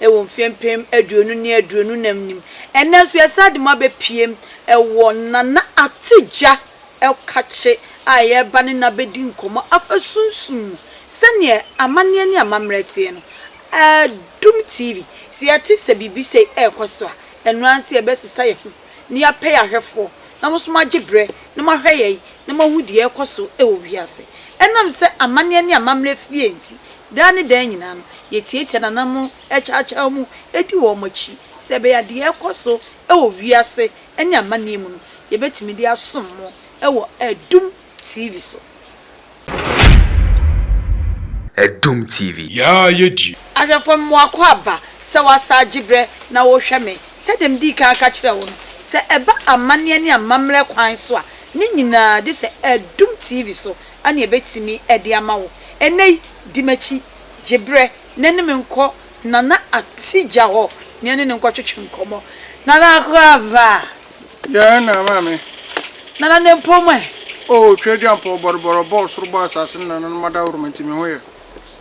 wɔ mfeɛ mpem aduonu ne aduonu nam nim. Ɛnnɛ nso yɛsan de mo abɛpiem wɔ Nana Attegya Ɛwkakye a yɛreba ne no abɛdi nkɔmmɔ afa sunsum mu sɛdeɛ amanneɛ ne amammerɛ teɛ no. Adum TV, sɛ yɛte sɛ biribi sei ɛrekɔ so a, ɛno ara nso yɛbɛsesa yɛn ho. na yɛapɛ ahwɛfoɔ na mo nso moagye berɛ na moahwɛ yɛn na moahu deɛ ɛrekɔ so wɔ wiase. Ɛnam sɛ amanneɛ ne amammerɛ fi yɛn nti, daa ne daa nyinaa no, yɛtiatia nananom, kyaakyaa mu, di wɔn akyi, sɛ ɛbɛyɛ a deɛ ɛrekɔ so wɔ wiase ne amanneɛ mu no, yɛbɛtumi de asom mo wɔ Adum TV so. Adum TV. Yaa yɛ die. Ahwɛfo no mmoakɔ aba sɛ wɔasa agye berɛ na wɔrehwɛ me. Sɛdeɛ medii kan aka kyerɛɛ wo no, sɛ ɛba amanneɛ ne amammerɛ kwan so a, ne nyinaa gye sɛ Adum TV so na yɛbɛtumi de ama wo. Ɛnnɛ yi, di m'akyi, gye berɛ na ne me nkɔ Nana Atija hɔ na yɛne no nkɔtwetwe nkɔmmɔ. Nana akɔ aba. Yɛɛ na ama me. Nana ne mpom ɛ. O Otweaduampɔn bɔrebɔre ɔbɔɔ ɔsoro bɔɔ asase ne nananom adaworoma nti me ho yɛ.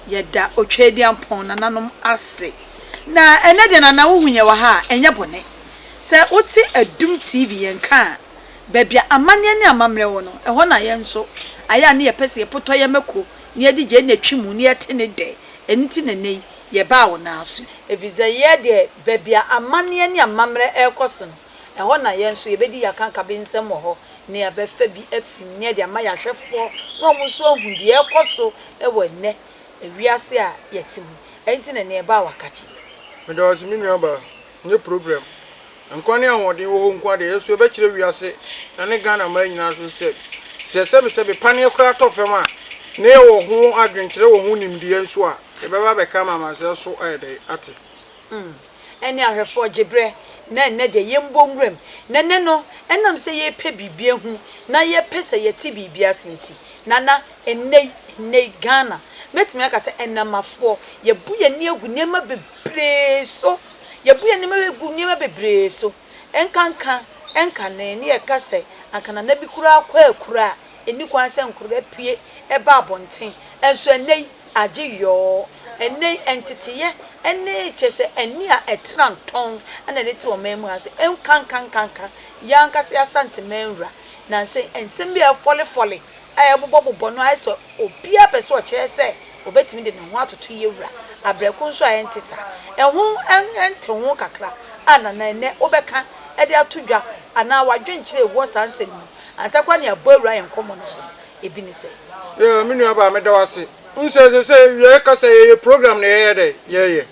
Yɛda Otweaduampɔn nananom ase. Na ɛnɛ deɛ Nana wohu yɛn wɔ ha a ɛnyɛ bɔne. Sɛ wote Adum TV yɛn nka a baabi a amanneɛ ne amammerɛ wɔ no ɛhɔ na yɛn nso ayɛ a ne yɛpɛ sɛ yɛpotɔ yɛn mako na yɛde gyae na twi mu na yɛte ne dɛ ɛno nti na ɛnɛ yi Yɛbaa wo nan so. Efisɛ yɛ deɛ, baabi a amanneɛ ne amammerɛ rekɔ so no, ɛhɔ na yɛn nso yɛbɛdi yɛn akankabensɛm wɔ hɔ, na yɛbɛfa bi afiri mu, na yɛde ama yɛn ahwɛfoɔ, na wɔn nso ahunu deɛ ɛrekɔ so wɔ ɛnnɛ wiase a yɛte mu. Ɛno nti na nea ɛbaa w'akakye. Meda wo ase, me nuabaa. Nyɛ program. Nkwa ne ahoɔden wɔ hɔ nko ara deɛ ɛyɛ so yɛbɛkyerɛ wiase na ne Ghana mmaa nyinaa nso sɛ, sɛ sɛbesɛbe paneɛ koraa tɔ fam a, na yɛwɔ ho adwenkyerɛ wɔ ho nimdeɛ nso a, yɛbɛba abɛka ama amansan so ayɛ dɛn? Ate. Mm, ɛne ahwɛfoɔ gye berɛ, na ɛnnɛ deɛ yɛmmɔ nwuram. Na ɛnnɛ no, ɛnam sɛ yɛrepɛ biribi ahu na yɛpɛ sɛ yɛte biribi ase nti, Nana, Ɛnnɛ yi, ɛnnɛ yi, Ghana, mɛtumi aka sɛ Ɛnamafoɔ, yɛabu yɛn ani agu nneɛma bebree so. Yɛabu yɛn ani agu nneɛma bebree so. Ɛnkanka, ɛnkane, ne yɛka sɛ, anka nana bi koraa kɔ akura a, ɛnni kwan sɛ nkwadaa pue ba abɔnten. Nso ɛnnɛ yi, agye yɔɔ. Ɛnnɛ yi, nteteeɛ ne, kyerɛ sɛ, ani a ɛtra ntɔn na ɛde te ɔman mu ha sɛ, ɛnkanka, ɛnkanka, yɛn ankasa yɛn Asanteman wura, nnansa yi, nsɛm bi a ɛfɔlefɔle a ɛbobɔbobɔ no ayɛ sɛ obiara pɛ sɛ ɔkyerɛ sɛ obetumi de ne ho atoto yɛ wura, abrɛko nso a ɛnte saa. Ɛho ntew ho kakra a na na ɛnnɛ wobɛka de ato dwa anaa w'adwenkyerɛ wɔ saa nsɛm yi mu ansa koraa na yɛabɔ awura yɛn nkɔmmɔ no so no, ebi ne sɛ. Yeah, me nuabaa, meda wo ase. Wohu sɛ ɛsɛ sɛ yɛkasa, yɛyɛ program na yɛyɛ dɛn? Yɛyɛ.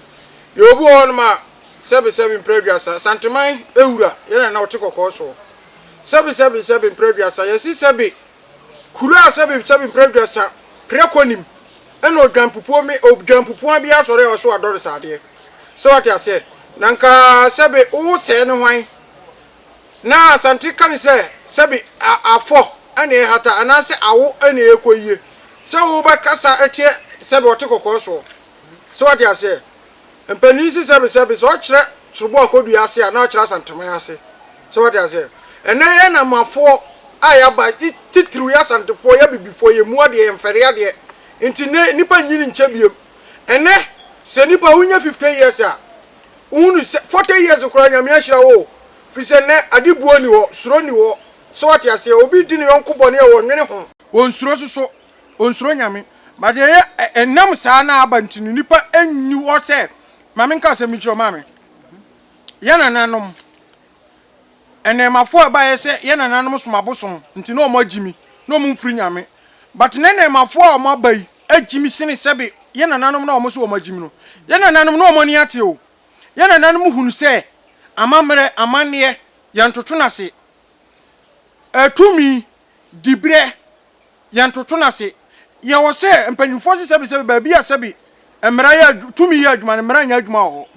Yɛwɔ bi wɔ hɔnom a, sɛbesɛbe mprɛ aduasa, Asanteman wura, yɛn na na ɔte kɔkɔɔ soɔ. Sɛbi sɛbi sɛbi mprɛ aduasa yɛsi sɛbi kuro a sɛbi sɛbi mprɛ aduasa prɛ kɔ nim ɛna odwanpupuo me odwanpupuaa biaa sɔre a ɔse wadɔ no saa deɛ sɛ wate aseɛ na nka sɛbi wo sɛɛ ne hwan na Asante ka ne sɛ sɛbi a afɔ ɛna ɛhata anaasɛ awo ɛna ɛkɔ yie sɛ wo bɛ kasa ɛteɛ sɛbi ɔte kɔkɔɔ soɔ sɛ wate aseɛ. Mpanin si sɛbesɛbe, sɛ ɔkyerɛ torobɔ a kɔdua ase a, na ɔkyerɛ Asanteman ase. So wate aseɛ? Ɛnnɛ yɛ Namafoɔ a yɛaba, titiriw yɛ Asantefoɔ, yɛ Abibifoɔ, yɛ mmu adeɛ, yɛ mfɛre adeɛ, nti nnɛ nnipa nnyin nkyɛ biom. Ɛnnɛ, sɛ nnipa wonya fifte years a, wohunu sɛ, fɔte years koraa Nyame ahyira wo o, firi sɛ nnɛ ade buo nni hɔ, suro nni hɔ. So wate aseɛ? Obi di ne yɔnko bɔne a, wɔnnwene ho. Wɔnsuro nso so ɔnsuro Nyame. But deɛ ɛyɛ ɛ, ɛnam saa na aba nti no, nnipa nni hɔ sɛ, ma menka asɛm bi nkyerɛ wo, maame. Yɛn nananom, nnɛɛmafoɔ a ɛbaeɛ sɛ yɛn nananom som abosom nti na wɔn agyi me, na wɔn mfiri Nyame. But nnɛ nnɛɛmafoɔ a wɔn aba yi agyi me sene sɛbe yɛn nananom no a wɔn se wɔn agyi me no. Yɛn nananom na wɔn ani ate o. Yɛn nananom hunu sɛ, amammerɛ, amanneɛ, yɛntoto no ase. Ɛɛ, tumi, Diberɛ, yɛntoto no ase. Yɛwɔ sɛ mpanyimfoɔ se sɛbi sɛbi baabi a sɛbi mmara yɛ adw tumi yɛ adwuma no mmara nyɛ adwuma wɔ hɔ.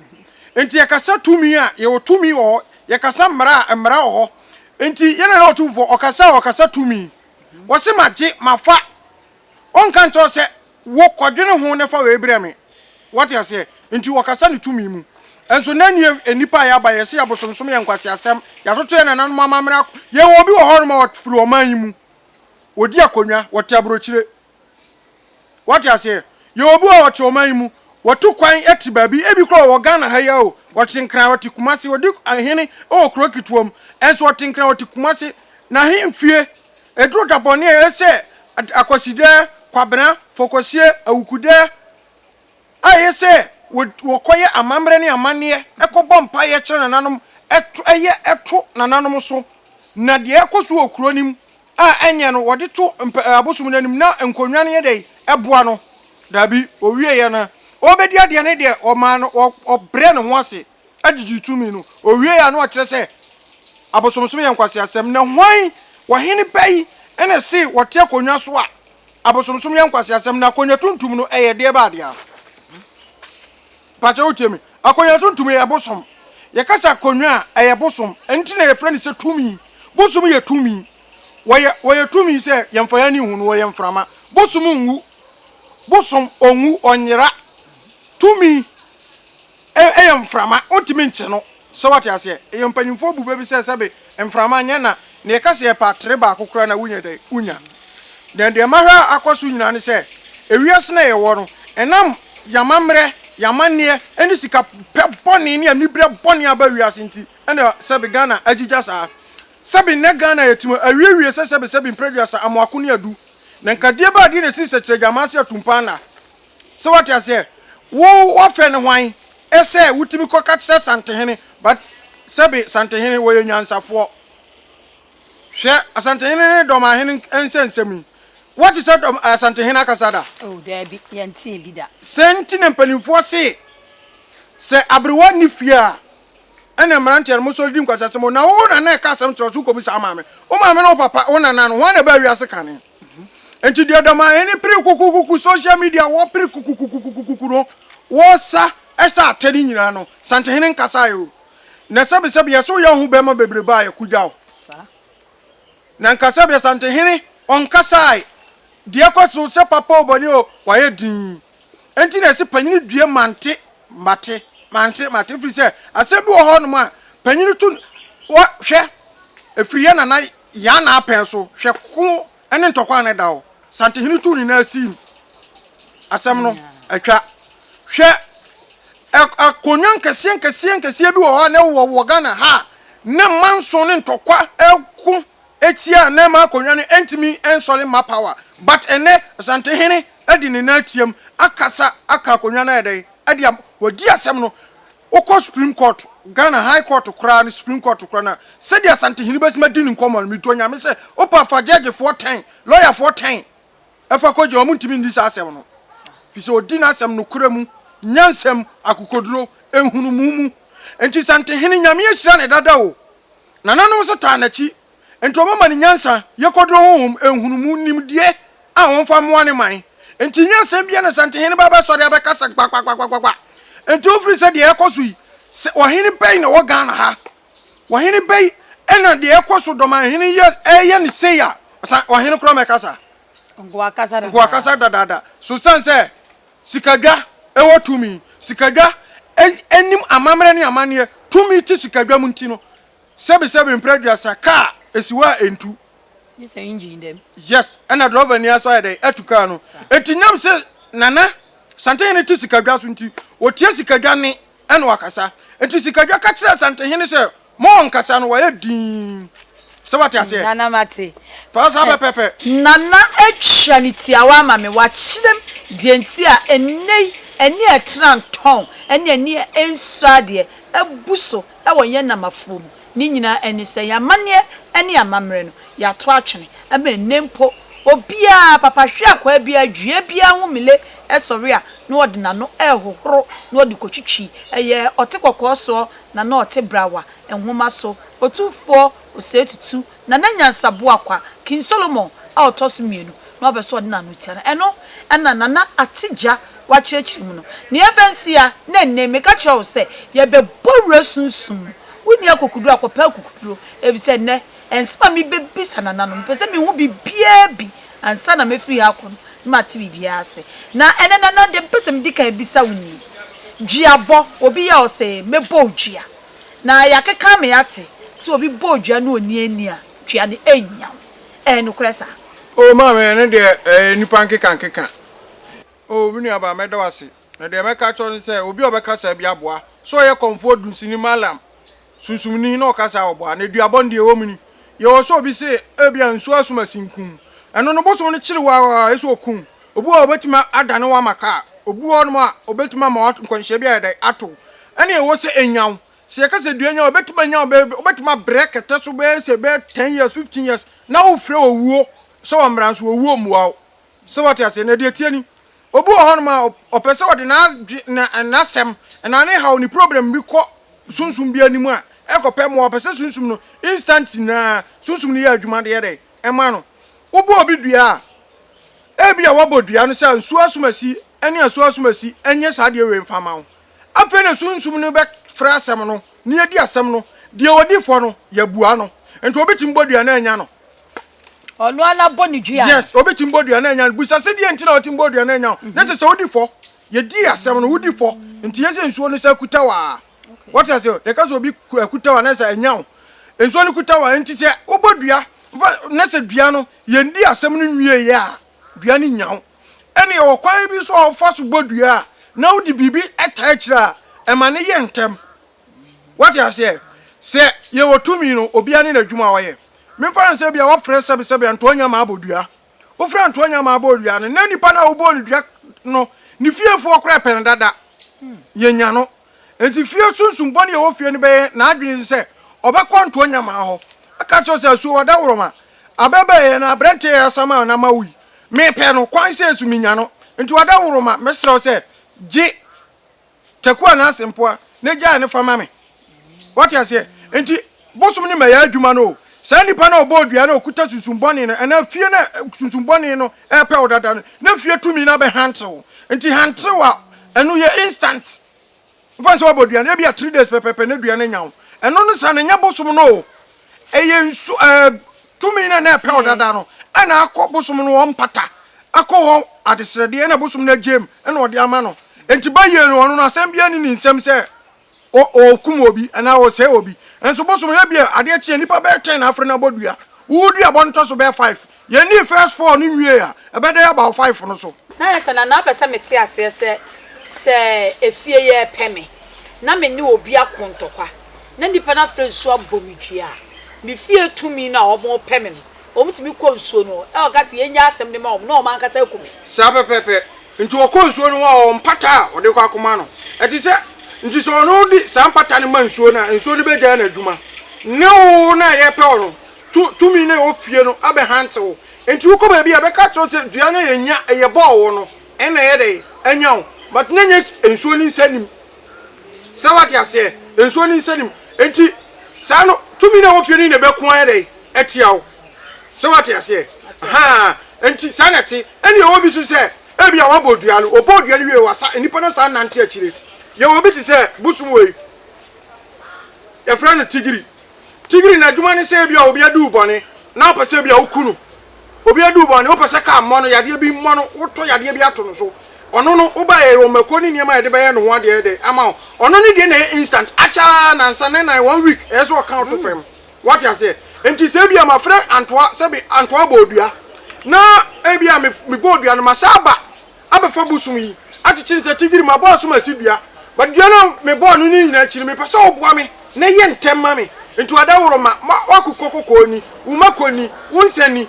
Enti yɛkasa tumi a, yɛwɔ tumi wɔ hɔ. Yɛkasa mmara a, mmara wɔ hɔ. Enti yɛn Nana Otumfoɔ, ɔkasa a, ɔkasa tumi. Ɔse magye, mafa. Ɔnka nkyerɛ wo sɛ, Wo, kɔdwene ho na fa wei brɛ me. Woate aseɛ? Enti ɔkasa ne tumi mu. Nso nnɛ nnue, nnipa a yɛaba, yɛse yɛbosomsom, yɛ nkwaseasɛm, yɛatoto yɛn nananom amammerɛ ak. Yɛwɔ obi wɔ hɔnom a ɔfiri ɔman yi mu. Ɔdi akonnwa. Ɔte aburokyire. Woate aseɛ? Yɛwɔ obi wɔ ha a ɔte ɔman yi mu. Watu kwan te baabi. Ebi koraa ɔwɔ Ghana ha yi ara o. Ɔte Nkran, ɔte Kumasi. Ɔdi ahene wɔ kuro ketewa mu. Nso ɔte Nkran, ɔte Kumasi. N'ahemfie. Eduru da bɔne a ese Akwasidɛ, Kwabena, Fokosie, Awukudɛ a eye sɛ wɔkɔyɛ amammerɛ ne amanneɛ, kɔbɔ mpaeɛ kyerɛ nananom, yɛ to nananom so. Na deɛ ɛkɔ so wɔ kuro no mu a ɛnyɛ no wɔde to abosom no anim na nkonnwa no yɛ dɛn? Boa no? Daabi, ɔwieeɛ no, ɔrebɛdi adeɛ no deɛ wɔmaa no, ɔbrɛɛ ne ho ase. gyigye tumi no, owiei a na ɔkyerɛ sɛ abosomsom yɛ nkwaseasɛm. Na hwan, ɔhene bɛ yi na ɛse ɔte akonnwa so a abosomsom yɛ nkwaseasɛm? Na akonnwa tuntum no, ɛyɛ deɛ baa dea? Mpakyɛ wotie me? Akonnwa tuntum yɛ bosom. Yɛka sɛ akonnwa a, ɛyɛ bosom. Ɛno nti na yɛfrɛ no sɛ tumi. Bosom yɛ tumi. Wɔyɛ, wɔyɛ tumi sɛ yɛmfa yɛn ani nhu no, wɔyɛ mframa. Bosom nwu. Bosom, ɔnwu, ɔnyera. Tumi. Ɛyɛ mframa, wontumi nkye no. So woate aseɛ? Ɛyɛ mpanyimfoɔ bu bɛ bi sɛ sɛbe mframa nyɛ na deɛ ɛka sɛ yɛpɛ atere baako koraa na wonya dɛn? Wonya. Na deɛ mahwɛ a akɔ so nyinaa ne sɛ, ewiase no a yɛwɔ no, ɛnam yɛn amammerɛ, yɛn amanneɛ, ne sika pɛ bɔne ne aniberɛ bɔne a aba wiase nti na sɛbe Ghana agyigya saa. Sɛbe nnɛ Ghana a yɛte mu awiewie sɛ sɛbe sɛbe mprɛduasa, amoako ne adu. Na nka deɛ bɛn adeɛ na ɛsii sɛ kyerɛgyamaa ase atumpa anaa? So wate aseɛ? Wo wafrɛ no hwan sɛ wotumi kɔ ka kyerɛ Santehene but sɛbe Santehene wɔyɛ nyansafoɔ. Hwɛ Asantehene ne Dɔmahene nsɛ nsɛm yi. Wate sɛ Dɔm Asantehene akasa da? Oh daabi yɛntee bi da. Sɛn nti na mpaninfoɔ se sɛ aberewa nni fie a ɛna mmeranteɛ no mosɔre di nkwaseasɛm o na wo nana ɛka asɛm kyerɛ wo so wokɔbu saa maame. Wo maame ne wo papa wo nana no hwan na ɛbaa wiase kane? Mhm. Nti deɛ dama hene pere kukukuku social media wɔ pere kukukukukukuku no wɔsa ɛsɛ atɛ ne nyinaa no santehene nkasa yɛ o na sɛbesɛbe yɛso yɛ ho bɛma bebree baa yɛ kugya o na nkasa bɛ santehene ɔnkasa deɛ kɔ so sɛ papa o bɔne o wayɛ din Enti na ɛsɛ panyin due mante mate mante mate ɛfiri sɛ asɛm bi wɔ hɔ nom a panyin to wɔ hwɛ ɛfiri yɛ nana yan na apɛn so hwɛ ko ne ntɔkwa ne da hɔ santehene tu ne na asim asɛm no atwa hwɛ akonnwa nkɛseɛ nkɛseɛ nkɛseɛ bi wɔ hɔ a na ɛwɔ wɔ Ghana ha ne manso ne ntɔkwa ɛko Etsia a na ɛma akonwa no nntumi nnsɔre mma power but ɛnnɛ Asantehene de ne nan atsiam akasa aka akonwa no ayɛ dɛn ɛde ama wadi asɛm no wokɔ supreme court Ghana high court koraa no supreme court koraa no a sɛdeɛ Asantehene bɛtumi adi ne nkɔmmɔ no metu onyame sɛ wopa fa judge foɔ ten lawyer foɔ ten ɛfa kɔ gyina wɔn ntumi nni saa asɛm no fi sɛ odi n'asɛm nokorɛ mu nyansam akokoduro nhunumu mu nti Santehene nyame ahyira ne dada o. Nananom nso taa n'akyi, enti wɔma no nyansa, yɛ kwaduro honhom, nhunumu, nimdeɛ a ɔmfa mmoa ne man. Enti nyɛ asɛm biara na Asantehene ba bɛsɔre abɛkasa gbagbagbagbagba. Enti wofiri sɛ deɛ ɛrekɔ so yi, sɛ ɔhene bɛn na ɛwɔ Ghana ha? Ɔhene bɛn na deɛ ɛrekɔ so Dɔmanhene yi reyɛ no sei a, ɔhene koraa mmɛkasa? Nkoa kasa dadaada. Nkoa kasa dadaada. So ɛsiane sɛ Sikadwa wɔ tumi. Sikadwa nim amammerɛ ne amanneɛ. Tumi te sikadwa mu nti no, sɛbesɛbe mprɛ aduasa kaa si hɔ a ɛntu. Gye sɛ engine da mu. Yes, ɛna drɔvani ara nso ayɛ dɛn atu kaa no. Enti nyam sɛ Nana Santehene te sikadwa so nti, ɔtia sikadwa nne ɛna wakasa. Nti Sikadwa ka kyerɛɛ Asantehene sɛ, Ma ɔnkasa no, wayɛ dinn. Sɛ woate aseɛ? Nana, mate. Pa saa pɛpɛɛpɛ. Nana atua ne tiawa ama me, wakyerɛ me deɛ nti a ɛnnɛ yi ani a ɛtra ntɔn ne ani a ɛnsɔ adeɛ abu so wɔ yɛn Namafoɔ mu. ne nyinaa ne sɛ yɛn amanneɛ ne yɛn amammerɛ no, yɛato atwene ama ɛnnɛ mpo. Obiara, papa hwe akwaa biara, dua biara ho mile sɔre a, na ɔde n'ano rehohoro na ɔde kɔtwitwi, ɛyɛ ɔte kɔkɔɔ soɔ na na ɔte brawa, nwoma so, otumfoɔ, osɛetutu, Na na nyansaboa kwa, King Solomon, a ɔtɔ so mmienu, na wabɛ sɛ ɔde n'ano tia no. Ɛno na Nana Ate Gya wakyerɛkyerɛ mu no. Nea ɛmfa nsi ara, na ɛnnɛ yi, meka kyerɛ wo sɛ, yɛbɛbɔ wura sunsum mu. Wonni akokoduru a, kɔpɛ akokoduro, efisɛ ɛnnɛ, ɛnsɛm a mebɛbisa Nana no, mepɛ sɛ mehu biribiara bi ansa na mɛfiri ha akɔ no, na mate biribiara ase. Na ɛnnɛ, Nana, deɛ mepɛ sɛ medi kan bisa wo nie, Duabɔ, obi yɛ a ɔsɛ, mɛbɔ wo dua? Na yɛakeka ama yɛate sɛ obi bɔɔ dua na onni ani a, dua no annya wo. Ɛyɛ nokorɛ saa? Oh, maame, ɛno deɛ, ɛyɛ nnipa nkekankeka. Oh, me nuabaa, mɛda wo ase. Na deɛ mɛka akyerɛ wo ne sɛ, obi a ɔbɛka saa bi aboa. Sɛ ɔyɛ kɔmfoɔ dunsini, mallam, sunsumni, na ɔka saa a, ɔboa. Na duabɔ no deɛ, ɛwɔ mu ni. yɛwɔ sɛ obi se ebia nsu asum asin kum ɛno no bosom no kyere wo a ɛsɛ okum obu a obetumi adane wo ama ka a obu hɔ nom a obetumi ama wo nkwanhyia bi ayɛ dɛn ato wo ɛne ɛwɔ sɛ enya wo sɛ yɛka sɛ dua nya wo ebetumi anya wo bɛyɛ obetumi abrɛ kɛtɛ so bɛyɛ sɛ bɛyɛ ten years fifteen years na wofrɛ owuo sɛ wɔmmra nso owuo mmua wo. So wate aseɛ? Na deɛ ɛteɛ ni, obi wɔ hɔnom a, ɔpɛ sɛ ɔde n'adwe, na, n'asɛm, anaa ne haw, ne problem bi kɔ sunsum bi anim a, ɛkɔpɛ mmoa. Ɔpɛ sɛ sunsum no, instant nyinaa, sunsum no yɛ adwuma de yɛ dɛn? Ɛma no. Wobɔ obi dua a, ebia wɔabɔ dua no sɛ nsuo asomasi ne asuo asomasi nyɛ saa adeɛ wei mfa mma wo. Afei na sunsum no bɛfrɛ asɛm no, na yɛadi asɛm no. Deɛ ɔdi fɔ no, yɛabua no. Enti obi tumi bɔ dua na annya no. ɔno ara na bɔ ne dua. yes obi ti mbɔ dua na anya no busa sɛ deɛ nti na ɔte mbɔ dua na anya no na sɛ sɛ wodi fɔ yɛdi asɛm no wodi fɔ nti yɛ sɛ nsuo no sɛ akuta waa wɔte ase yɛka sɛ obi akuta wa na sɛ anya wo nsuo no kuta wa nti sɛ wobɔ dua na sɛ dua no yɛndi asɛm no nwie yɛ a dua no nya wo ɛne yɛwɔ kwan bi so a wɔfa so bɔ dua a na wode biribi ɛtaa akyire a ɛma no yɛ ntɛm Wate aseɛ? Sɛ yɛwɔ tumi no, obiara ne n'adwuma a ɔyɛ. Memfa no sɛ ebia wɔfrɛ sɛbesɛbe ntoa nya ma abɔ dua. Wofrɛ ntoa nya ma abɔ dua no, na nipa no a wobɔɔ no dua no, ne fiefoɔ koraa pɛ no dada. Yɛnya no. Enti fie sunsum bɔne a ɛwɔ fie no bɛyɛ n'adwene sɛ ɔbɛkɔ ntoa nya ma hɔ, aka akyerɛ sɛ, Asuo ɔdawɔrɔma, abɛɛbɛɛyɛ na aberɛnteɛ yɛ asamma na mawo yi, mepɛ no, kwan sei so menya no, nti ɔdawɔrɔma, mɛsrɛ wo sɛ gye. Tekoa Nancy mpoa na gyae no fa ma me. Wate aseɛ? Nti, bosom ne mɛyɛ adwuma no o, saa nipa no a ɔbɔɔ dua no a ɔkuta sunsum bɔne no, anaa fie no a sunsum bɔne no repɛ wo dada no, na fie tumi no abɛ hantew wo. Nti hantew a ɛno yɛ instant. Mfa nsɛ wabɔ dua no, ebia three days pɛpɛpɛ na dua no anya wo. Ɛno no saa no, ɛnyɛ bosom no o. Ɛyɛ nsu ɛɛ tumi no a na ɛpɛ wo dada no, ɛna akɔ bosom no hɔ mpata, akɔ hɔ adesrɛdeɛ, ɛna bosom no agyae mu, ɛna ɔde ama no. Enti bayie no, ɔno no asɛm biara nni ne nsam sɛ ɔrekum obi anaa ɔresɛe obi. Nanso bosom no, ebia adeɛ kye a, nnipa bɛyɛ ten na afre no abɔ dua. Wowo duaba no tɔ so bɛyɛ five. Yɛnnii first four no nwiee a, ɛbɛda yɛaba wɔ five no so. Na ayɛ sɛ Nana pɛ sɛ mete aseɛ sɛ, sɛ efie yi repɛ me, na me ne obi ako ntɔkwa, na nnipa no afre nso abɔ me dua a, me fie tumi no a wɔrepɛ me no, Wɔn tumi kɔ nsuo no ho, na wɔka sɛ, Yɛn nya asɛm de ma wɔn, na wɔn ankasa aku me. Saa pɛpɛɛpɛ. Nti wɔkɔ nsuo no ho a, wɔwɔ mpata a wɔde kɔ akɔma no. Ɛte sɛ, nti sɛ ɔno de saa mpata no ma nsuo no a, nsuo no bɛgyae n'adwuma. Ne wo no a yɛrepɛ wo no, tu, tumi no a ɛwɔ fie no abɛhante wo. Nti wokɔ baabi a, ɛbɛka akyerɛ wo sɛ, Dua no a yɛnya, yɛbɔɔ wo no, ɛna ɛyɛ dɛn? Anya wo. But na ɛnyɛ nsuo no nsɛnnim. Sɛ wate aseɛ? Nsuo ne nsa nim. Enti saa no, tumi no a ɛwɔ fie no na ɛbɛko ayɛ dɛn? Atia wo. Sɛ wate aseɛ? Ahaa. Enti saa na ɛte. Ɛnna yɛwɔ bi nso sɛ, ebia wabɔ dua no, ɔbɔɔ dua no wiei, wasa, nnipa no asan anante akyire. Yɛwɔ bi te sɛ, bosom wei, yɛfrɛ no tigiri. Tigiri n'adwuma ne sɛ ebia obi adi wo bɔne na wopɛ sɛ ebia woku no. Obi adi wo bɔne, wopɛ sɛ car mmɔ no, yadeɛ bi mmɔ no, wotɔ yadeɛ bi ato no so. Ɔno no, wobaeɛ a yɛwɔ mmakuo ne nneɛma a yɛde bɛyɛ no ho adeɛ dɛ ama wo. Ɔno no deɛ na ɛyɛ instant, akyɛ ara nnansa, ne nnan, one week, ɛyɛ sɛ ɔka wo to fam. Woate aseɛ? Enti sɛ ebia mafrɛ Antoa sɛ me Antoa bɔɔ dua, na ebia mebɔɔ dua no, masan aba, abɛfa bosom yi akyekyere sɛ tigiri mabɔ asom asi dua but dua no a mebɔɔ no no nyinaa akyi no mepɛ sɛ woboa me na yɛ ntɛm ma me nti adaworo ma ma w'akokɔ kɔkɔɔ ni wo mako ni wo nsa ni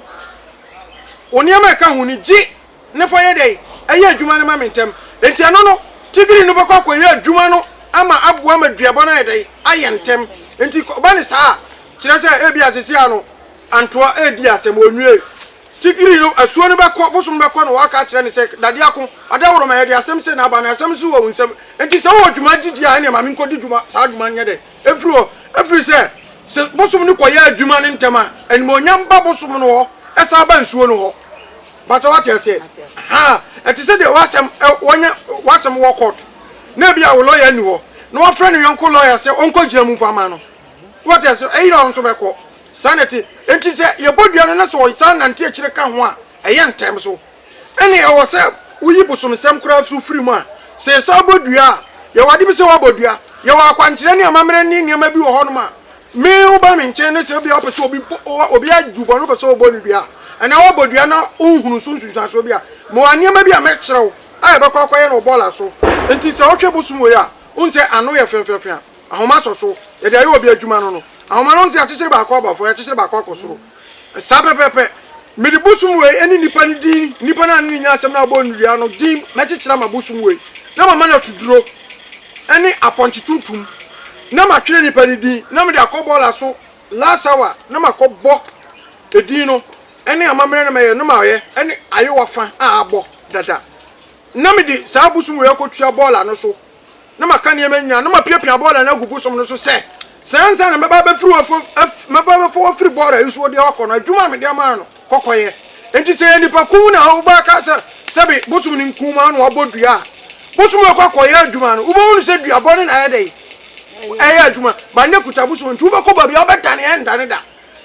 wo nneɛma a ɛka ho ni gye na fa yɛ dɛn ɛyɛ adwuma no ma me ntɛm nti ɛno no tigiri no bɛkɔ akɔyɛ adwuma no ama aboa ma duabɔ no ayɛ dɛn ayɛ ntɛm nti ba ne saa a kyerɛ sɛ ebi asese ano. Antoa redi asɛm, wɔnwiee. Tigiri no, asuo no bɛkɔ, bosom no bɛkɔ na wɔaka akyerɛ no sɛ, Dadeɛ ako, adeɛ woro ma yɛde asɛm sei na aba, na asɛm nso wɔ wo nsam. Enti sɛ wowɔ dwuma gyidie a, ɛnneɛ ma menkɔdi dwuma, saa dwuma no nyɛ dɛ mfiri hɔ. Ɛfiri sɛ se bosom no kɔyɛ adwuma no ntɛm a, animuonyam ba bosom no hɔ, ɛsan ba nsuo no hɔ. Mpakyɛ woate aseɛ? Ahaa. Ɛte sɛ deɛ w'asɛm, wɔanya w'asɛm wɔ court, na ebia wo lɔya nni hɔ, na wafrɛ ne yɔnko lɔya sɛ ɔnkɔgyina mu mfa mma no. Woate aseɛ? Ɛyera a, wo nso bɛkɔ. Saa na ɛte. Enti sɛ yɛbɔ dua no na sɛ wɔsan nante akyire ka ho a, ɛyɛ ntɛm so. Ɛnne ɛwɔ sɛ woyi bosomsɛm koraa so firi mu a, sɛ yɛsan bɔ dua a, yɛwɔ ade bi sɛ woabɔ dua. Yɛwɔ akwankyerɛ ne amammerɛ ne nneɛma bi wɔ hɔnom a me woba me nkyɛn na sɛ ebia wopɛ sɛ obi bɔ, obi agu bɔne wopɛ sɛ wɔbɔ no dua a, anaa woabɔ dua na wonhunuu so nsunsuansoɔ bi a, mewɔ nneɛma bi a mɛkyerɛ wo a yɛbɛkɔ akɔyɛ no wɔ bɔɔla so. Enti sɛ wohwɛ bosom wei a, wohu sɛ ano yɛ fɛfɛɛfɛ a. Ahoma sɔ so, yɛde ayɛ obi adwuma no no, ahoma no nse akyekyere baako aba fam, akyekyere baako akɔ soro. Saa pɛpɛɛpɛ. Mede bosom wei ne nnipa no din, nnipa no a ne ne nya asɛm no a wɔbɔɔ no dua no din mɛkyekyere ama bosom wei, na mama no atuduro ne apɔnkye tuntum, na matwerɛ nnipa no din, na mede akɔ bɔɔla so last hour, na makɔbɔ edin no ne amammerɛ no mɛyɛ no mayɛ ne ayewa fa a abɔ dada, na mede saa bosom wei akɔtua bɔɔla no so. na maka nneɛma nyinaa, na mapiapia bɔɔla no agugu som no so sɛ, Sɛ ansa na mɛba abɛfiri wo afam, af, mɛba abɛfa wo afiri bɔɔla nsuo deɛ wakɔ no, adwuma a mede ama no, kɔ kɔyɛ. Enti sɛ ɛyɛ nipa kum na wobɔ aka sɛ, Sɛbe, bosom no nkumaa na wabɔ dua a, bosom no kɔ akɔyɛ adwuma no, wobɛhunu sɛ dua bɔne na ayɛ dɛn? Ɛyɛ adwuma. Ba no akuta bosom, enti wobɛkɔ baabi a wobɛdane, ɛrendane da.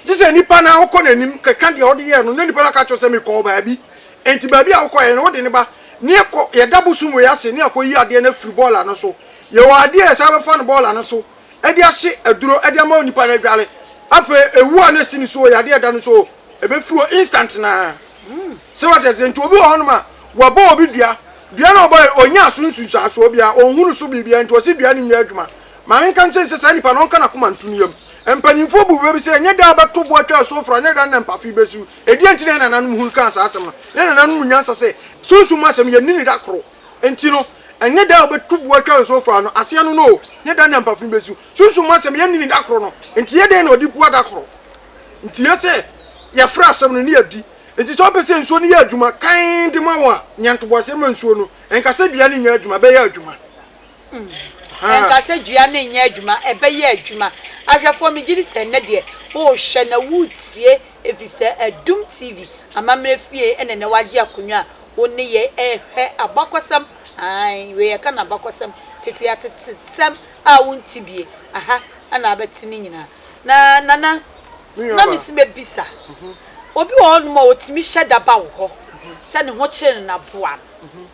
Gye sɛ nipa no ara wokɔ n'anim, keka deɛ wode yɛɛ no, na nipa no aka akyerɛ wo sɛ, Mekɔɔ baabi. Enti baabi a wokɔeɛ no, wode no ba, na yɛkɔ, yɛda bosom wei ase, na yɛakɔyi adeɛ no afiri bɔɔla no so. Yɛwɔ adeɛ a yɛsan bɛfa no bɔɔla no so de ahye aduro de ama onipa no adware. Afei, ɛwuo a na ɛsi ne so o, yadeɛ a ɛda no so o, ɛbɛfiri hɔ instant no ara. So wate aseɛ? Nti obi wɔ hɔnom a, wɔabɔ obi dua, dua no a wɔbɔeɛ no, ɔnyaa so nsunsuansoɔ biara, ɔnhunuu so biribiara, nti wɔse dua no nyɛ adwuma. Ma yɛnka nkyerɛ no sɛ saa nipa no, ɔnka n'akoma nto ne yam. Mpanimfoɔ buu bɛ bi sɛ, Ɛnyɛ da a wɔbɛto bo atwa asuo foro, ɛnyɛ da no na mpafe bɛsiw. Ɛdeɛn nti na yɛn nananom hunu kaa saa asɛm no? Yɛn nananom mu nyansa sɛ, Sunsum mu asɛm, yɛnni no da koro. Enti no, ɛnyɛ da a wɔbɛto bo atwa asuo foro ano, aseɛ no no oo, ɛnyɛ da no na mpafe no bɛsiw. Sunsum mu asɛm, yɛnni no da koro no. Enti ɛyɛ dɛn na wɔde bua da koro? Enti ɛyɛ sɛ yɛfrɛ asɛm no ne yɛdi. Enti sɛ wopɛ sɛ nsuo no yɛ adwuma kann de ma wo a, nya ntoboaseɛ ma nsuo no. Ɛnka sɛ dua no nyɛ adwuma, ɛbɛyɛ adwuma. Ɛnka sɛ dua no nyɛ adwuma, ɛbɛyɛ adwuma. Ahwɛfoɔ, megye di sɛ nnɛ deɛ worehwɛ na woretie ɛfiri sɛ Adum TV amammerɛ fie na nnɛ woagye akonnwa a wo ne yɛn rehwɛ abakɔsɛm, ae, wei yɛka no abakɔsɛm, tete atetesɛm a wonte bie, aha na wobɛte ne nyinaa. Na Nana, na mese mɛbisa, obi wɔ hɔnom a ɔtumi hyɛ da ba wo hɔ sɛ ne ho kyere no na boa no,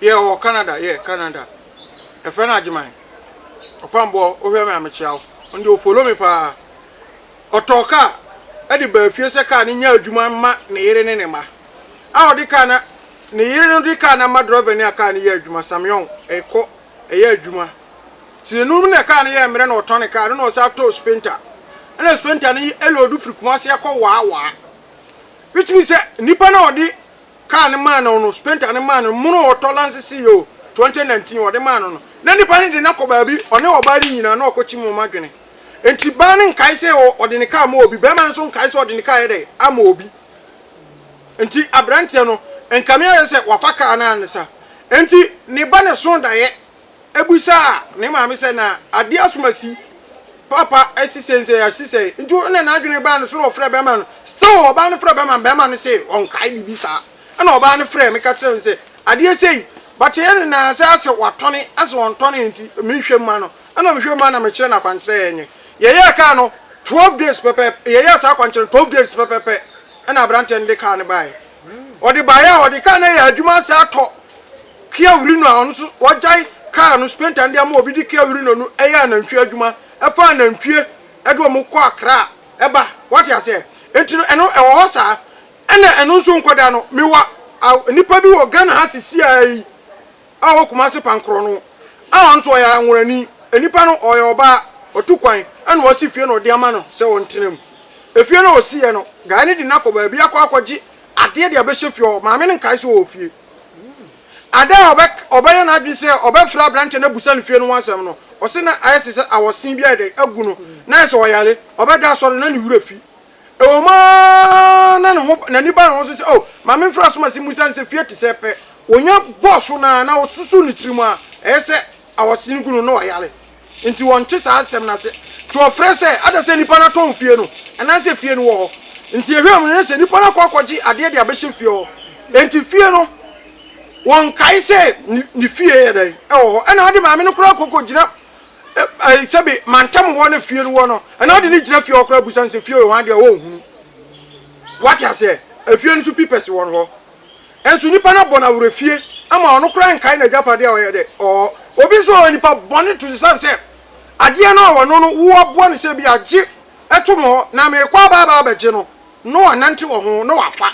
Yeah ɔwɔ Canada yeah Canada Ɛfrɛ no Agyeman Ɔkwamboɔ Wohwɛ me a mekyea wo Ɔno deɛ ɔfollow me paa Ɔtɔɔ kaa ɛde baa fie sɛ kaa no nyɛ adwuma mma ne yere ne ne mma a ɔde kaa na ne yere no de kaa no ama drɔvani a kaa no yɛ adwuma Samyong ɛkɔ ɛyɛ adwuma Tirenum no na kaa no yɛ mmerɛ na ɔtɔne kaa no na ɔsan tɔɔ Spenta ɛna Spenta no ɛloodu firi Kumasi akɔ Waa Waa Which means sɛ nnipa no a ɔde kaa no maa no no, spenta no maa no, mono ɔtɔ lanse si yoo, 2019, ɔde maa no no, na nipa no de no akɔ baabi, ɔne ɔbaa no nyina na ɔkɔ kyim wɔn adwene. Nti baa no nkae sɛ ɔde ne kaa ma obi, bɛɛma no nso nkae sɛ ɔde ne kaa ayɛ dɛn? Ama obi. Nti abranteɛ no, nkame ayɛ sɛ wafa kaa no ansa. Nti ne ba no soo daeɛ. Ebisaa ne maame sɛ, Na ade asom asi? Papa asi sɛn sɛn asi sɛn? Nti ɛna n'adwene baa no so na ɔfrɛɛ bɛrima no. Still ɔbaa no frɛɛ bɛrima no, bɛrima no see ɔnkae biribi saa. Ɛna ɔbaa no frɛɛ me ka kyerɛɛ me sɛ, Adeɛ sei, but yɛ ne nan ase ase watɔne ase ɔntɔnee nti menhwɛ mma no. Ɛna mehwɛ mma na mekyerɛ no akwankyerɛ yɛnyɛ. Yɛyɛɛ kaa no twelve days pɛpɛɛpɛ, yɛyɛɛ saa akwankyerɛ no twelve days pɛpɛɛpɛ ɛna aberanteɛ no de kaa no baeɛ. Ɔde baeɛ a, ɔde kaa no ayɛ adwuma ase atɔ. Kia Urino a ɔno nso wagyae kaa no spenta no de ama obi de Kia Urino no yɛ anantwie adwuma fa anantwie de wɔn kɔ Accra ba wate aseɛ nti no ɛno ɛwɔ hɔ saa ɛna ɛno nso nkɔda no mewɔ nipa bi wɔ Ghana ha sisiaa yi a ɔwɔ Kumasi Pankorɔ no a ɔno nso ɔyɛ anworani nipa no ɔyɛ ɔbaa ɔtu kwan ɛna ɔsi fie na ɔde ama no sɛ ɔntena mu efie no a ɔsiiɛ no guy no de no akɔ baabi akɔ akɔgye adeɛ de abɛhyɛ fie hɔ maame no nkae sɛ ɔwɔ fie. Ada a ɔbɛyɛ n'adwene sɛ ɔbɛfrɛ aberanteɛ no abisa no fie no ho asɛm no, ɔse na ayɛ te sɛ awɔsen bi ayɛ dɛn agu no, na ayɛ sɛ ɔyare, ɔbɛda asɔre na ne werɛ fi. Ɛwɔ mu ara na n'ani ba ne ho so sɛ, oh, ma memfrɛ asomasin mu ɛsiane sɛ fie te sɛɛ pɛ. Ɔnya bɔɔ so no ara na ɔsusuw ne tirim a ɛyɛ sɛ awɔsen gu no na ɔyare. Enti wɔnte saa asɛm no ase. Nti wɔfrɛ sɛ, Ada sɛ nipa no atɔn fie no, anaasɛ fie no wɔ hɔ? Enti yɛhwɛɛ mu no, na sɛ nipa no akɔ akɔgye adeɛ de abɛhyɛ fie hɔ. Enti fie no, wɔnkae sɛ ne ne fie yɛ dɛn? Ɛwɔ hɔ. Ɛna ade maame no koraa kɔkɔgyina ɛɛ sɛbe mantam hɔ na fie no wɔ no. Ɛna ade no gyina fie hɔ koraa bisa no sɛ fie wɔ hɔ adeɛ a, ɔnhunu. Wate aseɛ? Ɛfie no nso pipɛse wɔ no hɔ. Nso nipa no abɔ no awerɛfie ama ɔno koraa nkae n'agyapadeɛ a ɔyɛ dɛ ɔɔ. Obi nso ɔyɛ nipa bɔne to esiane sɛ adeɛ no a ɔwɔ no no woaboa no sɛ ebia gye to me hɔ na merekɔ aba aba abɛgye no na wanante wɔ ho na wafa.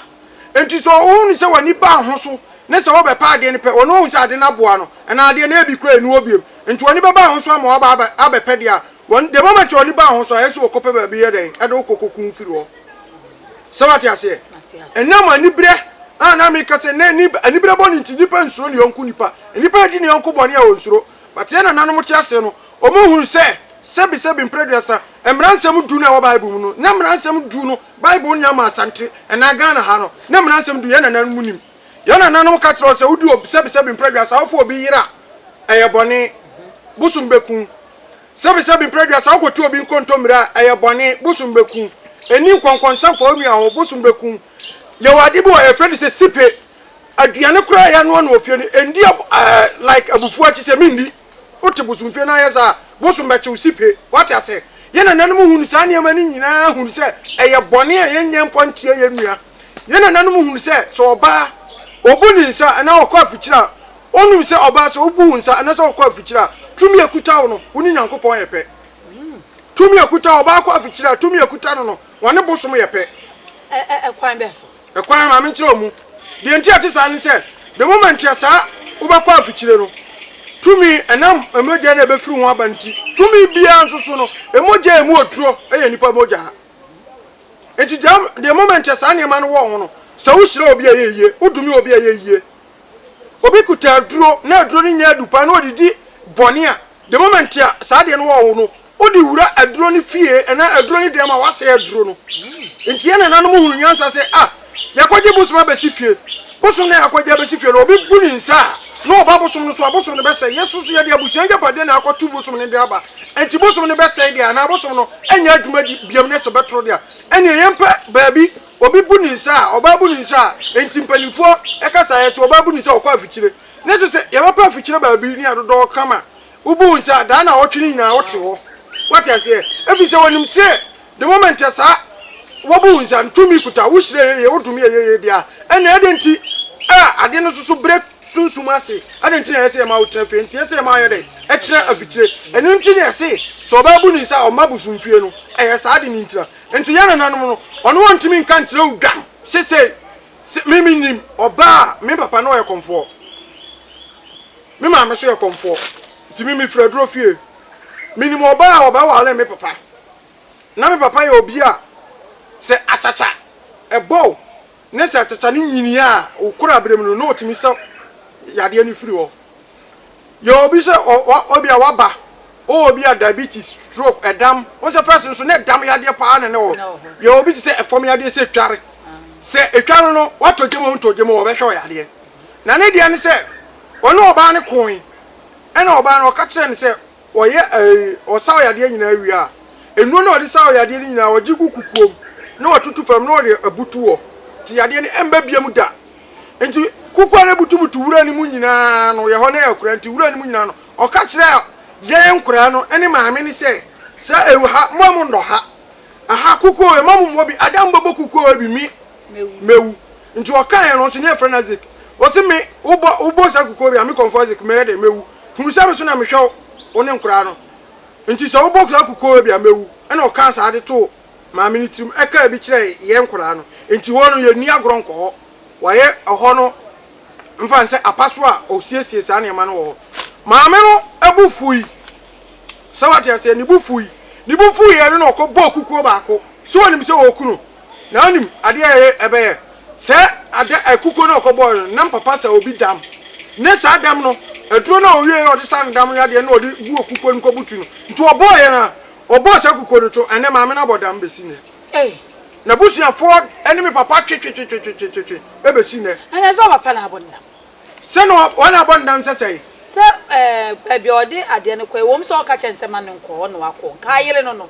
Enti sɛ ɔhu no sɛ w'ani baa ho so ne sɛ wobɛpɛ adeɛ no pɛ ɔno ahu sɛ ade no aboa no anaa adeɛ no ebi koraa nni hɔ bio nti w'ani bɛba ho so ama waba abɛpɛ deɛ a Wɔn the moment ɔde baa hɔ nso ayɛ sɛ ɔkɔpɛ baabi yɛ dɛn ɛde wo kɔ kɔ kun firi hɔ sɛ wate aseɛ ɛnam anibrɛ a na meka sɛ na ani anibrɛ bɔ ne nti nipa nsuro ne yɔnko nipa nipa adi ne yɔnko bɔne a ɔnsuro but yɛ nananom te aseɛ no ɔmo hunu sɛ sɛbi sɛbi mprɛduasa mmara nsɛm du no ɛwɔ bible mu no na mmara nsɛm du no bible nya ma asante ɛnaa Ghana ha no na mmara nsɛm du yɛ nananom nim Yɛn nananom ka kyerɛɛ wo sɛ wodi obi sɛbesɛbe mprɛdua, saa wofa obi yere a, ɛyɛ bɔne, bosom bɛku wo. Sɛbesɛbe mprɛdua, saa wokɔtu obi nkontommire a, ɛyɛ bɔne, bosom bɛku wo. Nni nkɔnkɔnsa mfa wo nua ho, bosom bɛku wo. Yɛwɔ ade bi wɔ hɔ, yɛfrɛ no sɛ sipe. Aduane koraa a yɛanoa no wɔ fie no, ɛndi like abufuo akyi sɛ menni. Wote bosomfie no ayɛ saa a, bosom bɛkye wo sipe. Woate aseɛ? Yɛn nananom hunuu saa nneɛma no nyinaa hunuu sɛ ɛyɛ bɔne a yɛnyɛ mfa nkyea yɛn nua. Yɛn nananom hunuu sɛ, sɛ ɔbaa, ɔbu ne nsa anaa ɔkɔ afikyire a, wɔnum sɛ ɔbaa, sɛ wobu wo nsa anaasɛ wokɔ afikyire a, tumi a ɛkuta wo no, wo ne Nyankopɔn yɛ pɛ. Tumi a ɛkuta ɔbaa kɔ afikyire a, tumi a ɛkuta no no, wɔne bosom yɛ pɛ. Ɛ, ɛ, ɛkwan bɛn so? Ɛkwan, ma menkyerɛ wo mu. Deɛ enti a ɛte saa ne sɛ, the moment a saa wobɛkɔ afikyire no, tumi ɛnam mogya no a ɛbɛfiri ho aba no nti, tumi biara nso so no, mogya a ɛmu oturo yɛ nnipa mogya. Enti the moment a saa nneɛma no wɔ ho no, sɛ wohyira obi a ɛyɛ yie, wodome obi a ɛyɛ yie, obi kuta aduro na aduro no nyɛ adu paa na ɔde di bɔne a, the moment a saa adeɛ no wɔ wo no, wode wura aduro no fie anaa aduro no dɛm a, woasɛe aduro no. Nti yɛn nananom hunu nyansa sɛ, ah, yɛakɔgye bosom abɛsi fie. Bosom no a yɛakɔgye abɛsi fie no, obi bu ne nsa a, na ɔba bosom no so a, bosom no bɛsɛe. Yɛn nso so yɛde abusua agyapadeɛ na akɔto bosom no de aba. Nti bosom no bɛsɛe deɛ anaa bosom no nyɛ adwuma biom na sɛ ɛbɛtoro deɛ a, ɛnneɛ yɛmpɛ baabi Obi bu ne nsa a, ɔbaa bu ne nsa a, enti mpanimfoɔ ka saeɛ sɛ ɔbaa bu ne nsa a ɔkɔ afikyire. Na kyerɛ sɛ yɛbɛkɔ afikyire baabi ne adodɔɔ ka ma wobu wo nsa a, daa nnawɔtwe no nyinaa wote hɔ. Woate aseɛ? Ɛfiri sɛ wɔnim sɛ the moment a saa wɔbu wo nsa no, tumi kuta wo, wohyira yɛ yie, wodome yɛ yie deɛ a, ɛnneɛ adɛn nti a adeɛ no soso berɛ sunsum ase? Adɛn nti na ɛyɛ sɛ yɛma wotena fie? Enti ɛyɛ sɛ yɛma wɔyɛ dɛn? Ɛkyena afikyire. Ɛno nti na yɛse sɛ ɔbaa bu ne nsa a, ɔmma bosomfie no. Ɛyɛ saa de ne ntira. Enti yɛn nananom no, wɔne wɔn ntumi nka nkyerɛ wo dwam se sei, se me mennim ɔbaa a me papa ne ɔyɛ kɔmfoɔ, me maame nso yɛ kɔmfoɔ, nti me mefiri aduro fie. Menim ɔbaa a ɔbɛware me papa. Na me papa yɛ obi a sɛ akyakya bɔ wo Ne sɛ teta no nyini a, wo korabere mu no na ɔtumi sɛ yadeɛ no firi hɔ. Yɛ obi sɛ obi a waba, ɔwɔ obi a diabetes, stroke, ɛdam, wo sɛ pɛs nso na ɛdam yadeɛ paa na ne wɔ. Yɛ obi te sɛ ɛfam yadeɛ sɛ tware. Sɛ ɛtwa no no, watɔ gyam o, ntɔ gyam o, wɔbɛhwɛ wo yadeɛ. Na ne deɛ ne sɛ, ɔne ɔbaa no koe, ɛna ɔbaa no ɔka kyerɛ no sɛ, Ɔyɛ ɛɛ ɔsaw yadeɛ nyinaa wie a, nnuro no a ɔde saw yadeɛ no nyinaa ɔgye gu kukuo mu na watutu fam na ɔde abutu hɔ nti yadeɛ no ɛmba biam da. Nti kukuo a na ɛbutubutu wura no mu nyinaa no yɛ hɔ na ɛkura nti wura no mu nyinaa no ɔka kyerɛɛ yɛn nkoraa no ne maame no sɛ sɛ ɛwɔ ha mo a monnɔ ha. Aha kukuo yɛ mamu mɔ bi ada mbɛbɔ kukuo yɛ bi me mɛwu nti ɔka yɛ no ɔsi ne ɛfrɛ no Isaac ɔsi me wobɔ wobɔ saa kukuo yɛ a me kɔnfɔ Isaac mɛyɛ dɛ mɛwu hunu sɛ me so na me hwɛ wo ne nkoraa no nti sɛ wobɔ saa kukuo yɛ bi a mɛwu ɛna ɔkaa saa de too maame no tirim ɛkaa bi kyerɛ yɛ nkoraa no nti hɔ no yɛ nni agorɔ nkɔ hɔ wayɛ ɛhɔ no mfa nsɛ apaso a ɔsiesie saa nneɛma no wɔ hɔ maame no bo fui. Sɛ wate aseɛ? Ne bo fui. Ne bo fuiɛ no na ɔkɔbɔɔ kukuo baako. Sɛ ɔnim sɛ ɔreku no? Na ɔnim adeɛ a ɛyɛ ɛbɛyɛ? Sɛ ada ɛ kukuo no a ɔkɔbɔɔɛ no, nam papa sɛ obi dam. Ne saa dam no, aduro no a ɔwieɛ a ɔde saa ne dam no yadeɛ no na ɔde gu kukuo no mu kɔbutu no. Nti ɔbɔɔɛ no ara. Ɔbɔɔ saa kukuo no to ɛnnɛ maame no abɔ dam bɛsi nnɛ. N'abusuafoɔ ne me papa twetwetwetwetwe bɛsi nnɛ. Ɛnna ɛsɛ sɛ ɔpapa na abɔ ne dam. Sɛ na wɔn abɔ no dam sɛ sɛn? Sɛ baabi a ɔde adeɛ no kɔ, ɛwom sɛ ɔka kyerɛ no sɛ ma no nkɔ hɔ na wakɔ, nka ayere no no.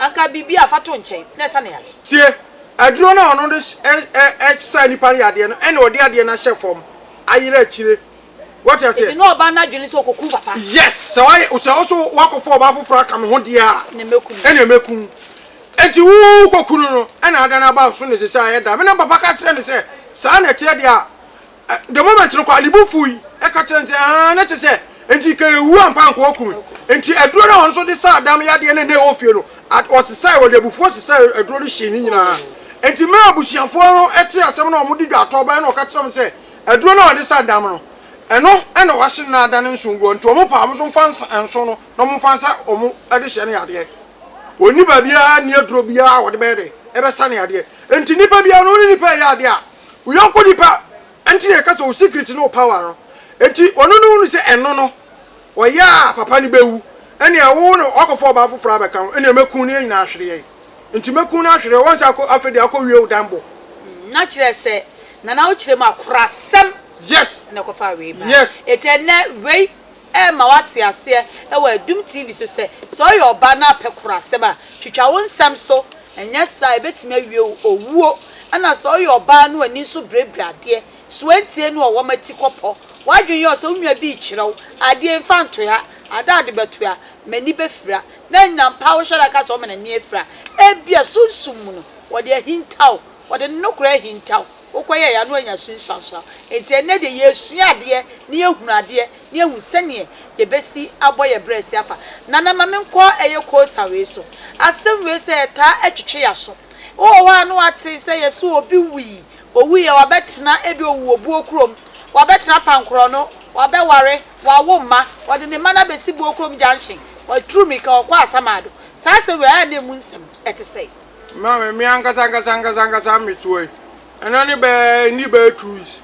Anka biribi a fa to nkyɛn na ɛsa no yare. Tie! Aduro no a ɔno de sa nnipa no yadeɛ no ɛna ɔde adeɛ no ahyɛ fam ayere akyire. Wate aseɛ? Ebi na ɔbaa no adwene sɛ ɔkɔku wo papa. Yes! Sɛ wayɛ, sɛ wo so wakɔfa ɔbaa foforɔ aka me ho deɛ a, ɛna mɛku wo. Enti wo kɔku no no ɛna ada no aba wo so na ɛsɛ sɛ ayɛ da. Me na me papa ka kyerɛɛ me sɛ saa na ɛteɛ deɛ a, The moment no kɔ a, ne bo fuui, ɛka kyerɛɛ no sɛ, Ahaa, na kyerɛ sɛ, enti ka ewu ampa anka wɔaku me. Enti aduro no a wɔn nso de saa adam yadeɛ no a na ɛwɔ fie no, wɔsesae, wɔde abufuo sesae aduro no hyee ne nyinaa. Enti mmerɛ a abusuafoɔ no tee asɛm no a wɔde dwaatɔɔ baeɛ no wɔka kyerɛɛ wɔn sɛ, Aduro no a wɔde sa adam no, ɛno na wɔahye no na ada no nson gu hɔ, enti wɔn paa wɔn nso mfa nsa nson no na wɔmfa nsa wɔn de hyɛ no yadeɛ. Wɔnni baabiara nni aduro biara a wɔde bɛyɛ dɛ? Ɛbɛsa no yadeɛ. Enti nnipa biara no, wo ne nnipa reyɛ adeɛ a, Wo yɔnko nipa nti na yɛka sɛ wo secret ne wo power no. Nti ɔno no hunu sɛ ɛno no ɔyɛ a papa no bɛwu ɛnea wo na wakɔfa ɔbaa foforɔ abɛka ho ɛnea mɛku no yɛn nyinaa ahwereɛ nti mɛku no ahwereɛ wɔn sɛ afei deɛ akɔ wie wo dan bɔ. Mm na kyerɛ sɛ Nana wo kyerɛ mu akorasɛm yes na ɛkɔfaa wei baa yes. Nti ɛnɛ wei. Ɛrema woate aseɛ wɔ Adum TV so sɛ, sɛ ɔyɛ ɔbaa na apɛ korasɛm a, twitwa wo nsɛm so, ɛnyɛ saa a ɛbɛtumi awie wo owuo. Ɛna sɛ ɔyɛ ɔbaa na w'ani nso birebire adeɛ, soantie no ɔwɔ m'ati kɔpɔ. W'adwene yɛ wo sɛ wo nua bi rekyerɛ wo adeɛ, mfa nto ha, ada ade bɛto a, m'ani bɛfira. Na nnya mpa wo hyɛ da ka sɛ ɔma n'ani afira. Ebia sunsum mu no, ɔde ahinta wo, ɔde ne nokorɛ ahinta wo. wokɔyɛe ano anya sunsuanso. Enti ɛnnɛ deɛ yɛresua adeɛ na yɛhunu adeɛ na yɛahu sɛdeɛ yɛbɛsi abɔ yɛn berɛ asi afa Nana ma menkɔ ɛyɛ Kosa wei so. Asɛm wei sɛ ɛtaa twetwe yɛaso. Wowɔ hɔ a na woate sɛ yɛse obi wui, owuiɛ wabɛtena ebia ɔwu wɔ buo kurom, wabɛtena Apankorɔno, wabɛware, wawo mma, ɔde ne mma no abɛsi Buo kurom junction, watu mirika ɔkɔ Asamado. Saa asɛm wei ayɛ a na ɛmu nsɛm ɛte sɛn? Ma me, me ankasa ankasa ankasa ankasa mmesoa yi, ɛna ne bɛɛ nni bɛɛ two weeks.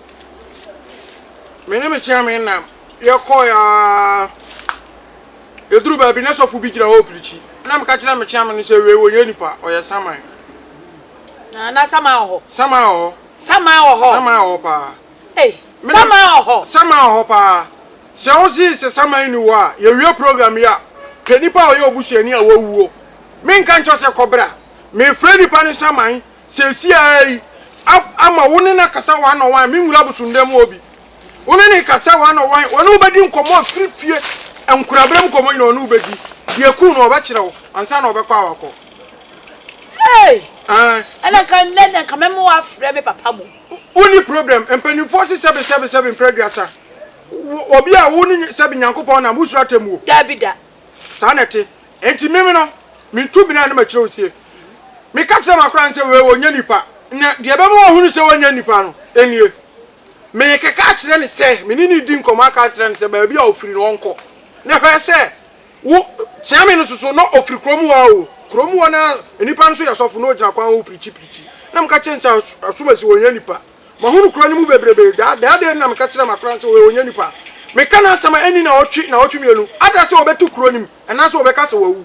Me ne me hyia me nna, yɛkɔɔ ya yɛduru baabi na sɔfo bi gyina hɔ ɔpirikyi. Na meka kyerɛ me kyea me no sɛ wei wɔnyɛ nipa, ɔyɛ saman. Na na saman wɔ hɔ. Saman wɔ hɔ. Saman wɔ hɔ. Saman wɔ hɔ paa. Ei, saman wɔ hɔ. Saman wɔ hɔ paa. Sɛ wo se sɛ saman ni hɔ a, yɛwie program yi a, pɛ nipa a ɔyɛ obusuani a wawuo Menka nkyerɛ wo sɛ kɔ bra. Merefrɛ nnipa no saman seesei ara yi ama wo ne no akasa one on one, me nwura abosondan mu hɔ bi. Wo ne no kasa one on one, ɔne wo bɛdi nkɔmmɔ afiri fie, nkuraberem nkɔmmɔ nyinaa ɔne wo bɛdi. Deɛ ɛkum no ɔbɛkyerɛ wo ansa na ɔbɛkɔ a wakɔ. Hey! Aye. Ɛna nka nnɛ na nka mɛma woafrɛ me papa mo. Wonni problem, mpanimfoɔ se sɛbe sɛbe sɛbe mprɛ aduasa. Wo, obi a wo ne sɛbe Nyankopɔn nam, wosuro atemmuo? Daabi da. Saa na ɛte. Enti meme no, metu bena na makyerɛ wo se, Meka kyerɛ m'akoraa no sɛ, Wei ɔnyɛ nipa, na deɛ ɛbɛma wahunu sɛ ɔnyɛ nipa no, nie, Merekeka akyerɛ no sɛ, me ne no redi nkɔmmɔ aka akyerɛ no sɛ, baabi a ɔfiri no ɔnkɔ, na hwɛ sɛ wo, Kyeame no soso na ɔfiri kuro mu hɔ ara o, kuro mu hɔ no ara, nnipa no nso yɛ sɔfo, na ɔgyina kwan ho pirikyi pirikyi, na meka kyerɛ no sɛ, Asomasi, ɔnyɛ nipa. Mahunu kuro no mu bebrebe, daa, daa dei na meka kyerɛ m'akoraa no sɛ, Wei ɔnyɛ nipa. Meka n'asɛm a ɛnni naawɔtwe, naawɔtwe mmienu, ada sɛ ɔbɛto kuro no mu. Anaasɛ wɔbɛka sɛ wawu.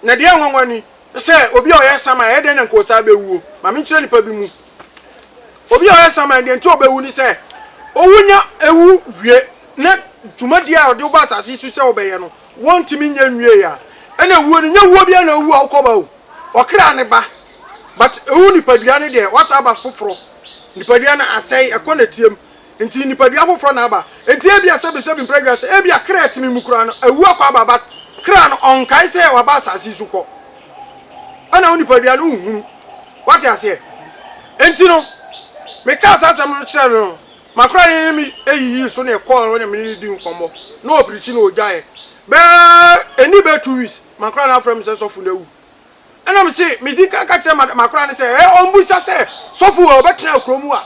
Na deɛ ɛyɛ nwanwa ni sɛ, obi a ɔyɛ saman, ɛyɛ dɛn na nka ɔsan bɛwuo? Ma menkyerɛ nnipa bi mu. Obi a ɔyɛ saman, deɛ nti ɔbɛwu ne sɛ, ɔwu nya ɛwu wie na dwumadie a ɔde wo ba asase yi so sɛ wobɛyɛ no, wontumi nyɛ nwieeɛ a, ɛna wuo no, nyɛ wuo biara na wowu a wokɔ ba o. Ɔkra ne ba. But ɛwu nipadua no deɛ, wasan aba foforɔ. Nipadua no asɛe, ɛkɔ nɛteɛ mu. Enti nipadua foforɔ na aba. Enti ebia sɛbesɛbe mpra dwa so, ebia kra a ɛtene mu koraa no awu akɔ aba but kra no ɔnkae sɛ waba asase yi so kɔ. Ɛna wo nipadua no wonhunu. Woate aseɛ? Enti no, mekaa saa asɛm no kyerɛɛ no no, m'akora no ne me yiyii so na ɛkɔɔ hɔ na me ne no dii nkɔmmɔ na ɔpirikyi na ɔgyaeɛ. Bɛyɛ ɛnni bɛyɛ two weeks, m'akora no afrɛ me sɛ sɔfo no awu. Ɛnna mise midi kan ka kyerɛ m'akoraa no sɛ, Ɛ, ɔmmisa sɛ, 'Sɔfo wei, ɔbɛtena kurow mu a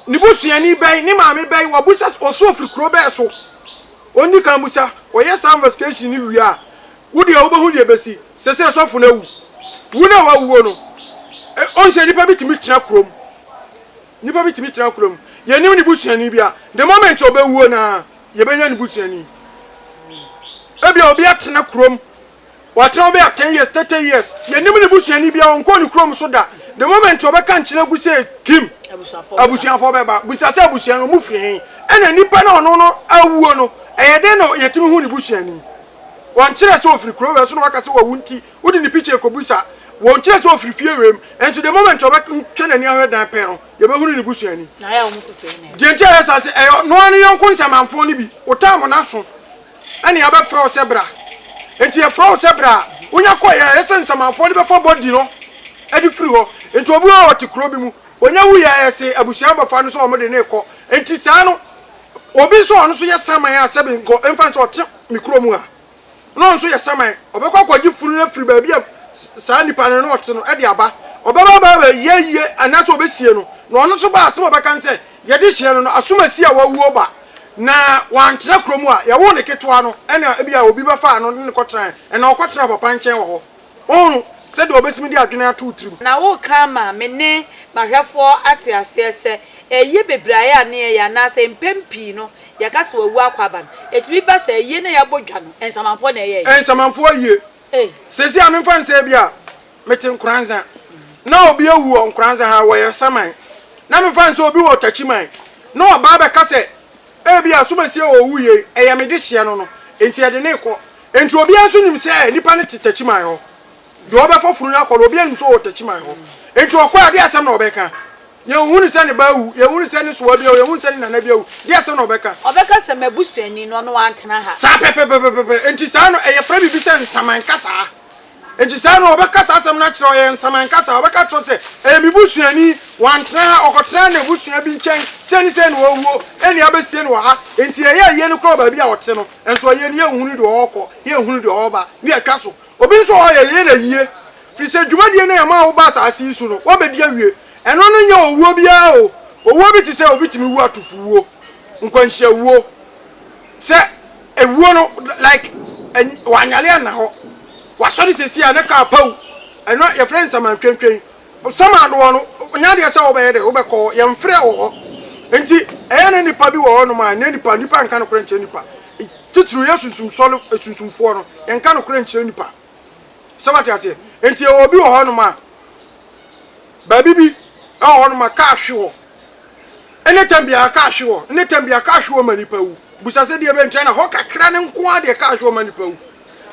ne busuani bɛn, ne maame bɛn, wabisa sɛ ɔso ɔfiri kurow bɛn so? Ɔnni kan mmisa. Wɔyɛ saa investigation no wie a, wo deɛ wobɛhu deɛ ɛbɛsi. Seesei sɔfo no awu. Wu no a wawuo no, ɔhu sɛ nnipa bi tumi tena kurom. Nnipa bi tumi tena kurom. Yɛnnim ne busuani biara. The moment ɔbɛwuo no ara, yɛbɛnya ne busuani. Ebia obi atena kurom. Ɔatena hɔ bɛyɛ ten years, thirty years. Yɛnnim ne busuani biara, ɔnkɔɔ ne kurom nso da. The moment ɔbɛka nkyerɛ gu sɛ Kim abusuafoɔ bɛba, bisa sɛ abusua no, wɔfiri he? Ɛna nipa no a ɔno no awuo no, ɛyɛ dɛn na yɛtumi hu ne busuani? Wɔnkyerɛ sɛ ɔfiri kuro wei so na wɔaka sɛ wawu nti, wode ne picture rekɔbisa. Wɔnkyerɛ sɛ ɔfiri fie wei mu. Nso the moment ɔbɛtwe n'ani ahwɛ dan pɛ no, yɛbɛhunu ne busuani. Deɛ nti a ɛyɛ saa ne sɛ, ɛyɛ ɔno ara ne yɔnko nsamanfoɔ no bi. Wotaa mo no aso. ɛne yɛabɛfrɛ wo sɛ bra. Enti yɛfrɛ wo sɛ bra a, wonya kɔ yɛ, ɛyɛ sɛ nsamanfoɔ no bɛfa body no de firi hɔ. Enti obi hɔ a ɔte kuro bi mu, onya wuiɛ a yɛse abusua no bɛfa no sɛ wɔn de no rekɔ. Enti saa no, obi nso a ɔno nso yɛ saman a sɛbe nka ɛmfa no sɛ ɔte me kuro mu ha na ɔno nso yɛ saman, ɔbɛkɔ akɔgye funu no afiri baabi a Saa nipa no ne ɔte no de aba. Ɔbɛba abɛyɛ ayie anaasɛ wɔbɛsie no. Na ɔno nso ba a, asɛm a ɔbɛka ne sɛ, 'Yɛde hyeɛ no no, asomasi a wawuo ba, na wantena kuro mu a yɛwoo no ketewa no, ɛnna ebia obi bɛfaa no ne no kɔtenaeɛ, ɛnna ɔkɔtenaa papa nkyɛn wɔ hɔ. Woahunu sɛdeɛ wɔbɛtumi de adwene ato wo tirim? Na woreka ama me ne m'ahwɛfoɔ ate aseɛ sɛ, 'Ayie bebree a na yɛyɛ anaasɛ mpɛn pii no yɛka sɛ wawu akɔ aba no, ɛtumi ba sɛ ayie no a yɛabɔ dwa no, nsamanfoɔ na ɛyɛeɛ. Nsamanfoɔ ayie. Seesei a memfa no sɛ ebia mete Nkoranza na obi awu wɔ Nkoranza ha, wɔyɛ saman, na memfa no sɛ obi wɔ Takyiman na ɔba abɛka sɛ ebia Asomasie wɔ owu yei, ɛyɛ me dehyeɛ no no nti ɛde no rekɔ. Enti obiara nso nim sɛ nipa no te Takyiman hɔ. Deɛ ɔbɛfa funu no akɔ no, obiara nim sɛ ɔwɔ Takyiman hɔ. Enti ɔkɔ a, ɛdeɛn asɛm na ɔbɛka? Yɛnhunu sɛ ne ba awu, yɛnhunu sɛ ne soa bi awu, yɛnhunu sɛ ne nana bi awu. Deɛ sɛ na ɔbɛka. Ɔbɛka sɛ, M'abusuani no, ɔno wantena ha. Saa pɛpɛpɛpɛpɛ. Enti saa no, ɛyɛ frɛ biribi sɛ nsaman kasaa. Enti saa no, ɔbɛka saa asɛm no akyerɛ wo, ɛyɛ nsaman kasaa. Ɔbɛka akyerɛ wo sɛ, Ɛyɛ me busuani, wantena ha, ɔkɔtenaa n'abusua bi nkyɛn, sei ne sei na wawuo, ɛnneɛ abɛsie no wɔ ha. Enti ɛyɛ ayie no koraa wɔ baabi a ɔte no, nso ayie no, yɛnhunu deɛ ɔrekɔ, yɛnhunu deɛ ɔreba, ne atwa so. Obi nso wɔ hɔ a, yɛyɛ no ayie, firi sɛ dwumadie no a yɛmaa wobaa asaase yi so no, woabɛdi awie. Ɛno no nyɛ owuo biara o. Owuo bi te sɛ obi tumi wu atofowuo, nkwanhyiawuo, sɛ ewuo no like wanyale anna hɔ, wasɔre seesei a ne kaa paw, ɛno yɛfrɛ no nsamantwentwen. Samaadoɔ no nyɛ adeɛ sɛ wobɛyɛ dɛ wobɛkɔ hɔ, yɛmfrɛ wɔ hɔ. Nti ɛyɛ na nnipa bi wɔ hɔnom a ɛnyɛ nnipa, nnipa nka nokorɛ nkyerɛ nnipa, titiriw yɛ sunsumsɔre sunsumfoɔ no yɛnka nokorɛ nkyerɛ nnipa, sɛ woate aseɛ. Nti yɛwɔ obi wɔ hɔnom a Baabi bi wɔ hɔ nom a kaa hwe hɔ. Ɛne tam biara kaa hwe hɔ. Ɛne tam biara kaa hwe hɔ ma nnipa wu. Bisa sɛ deɛ bɛ nkyɛn na hɔ kakra no nko ara deɛ kaa hwe hɔ ma nnipa wu.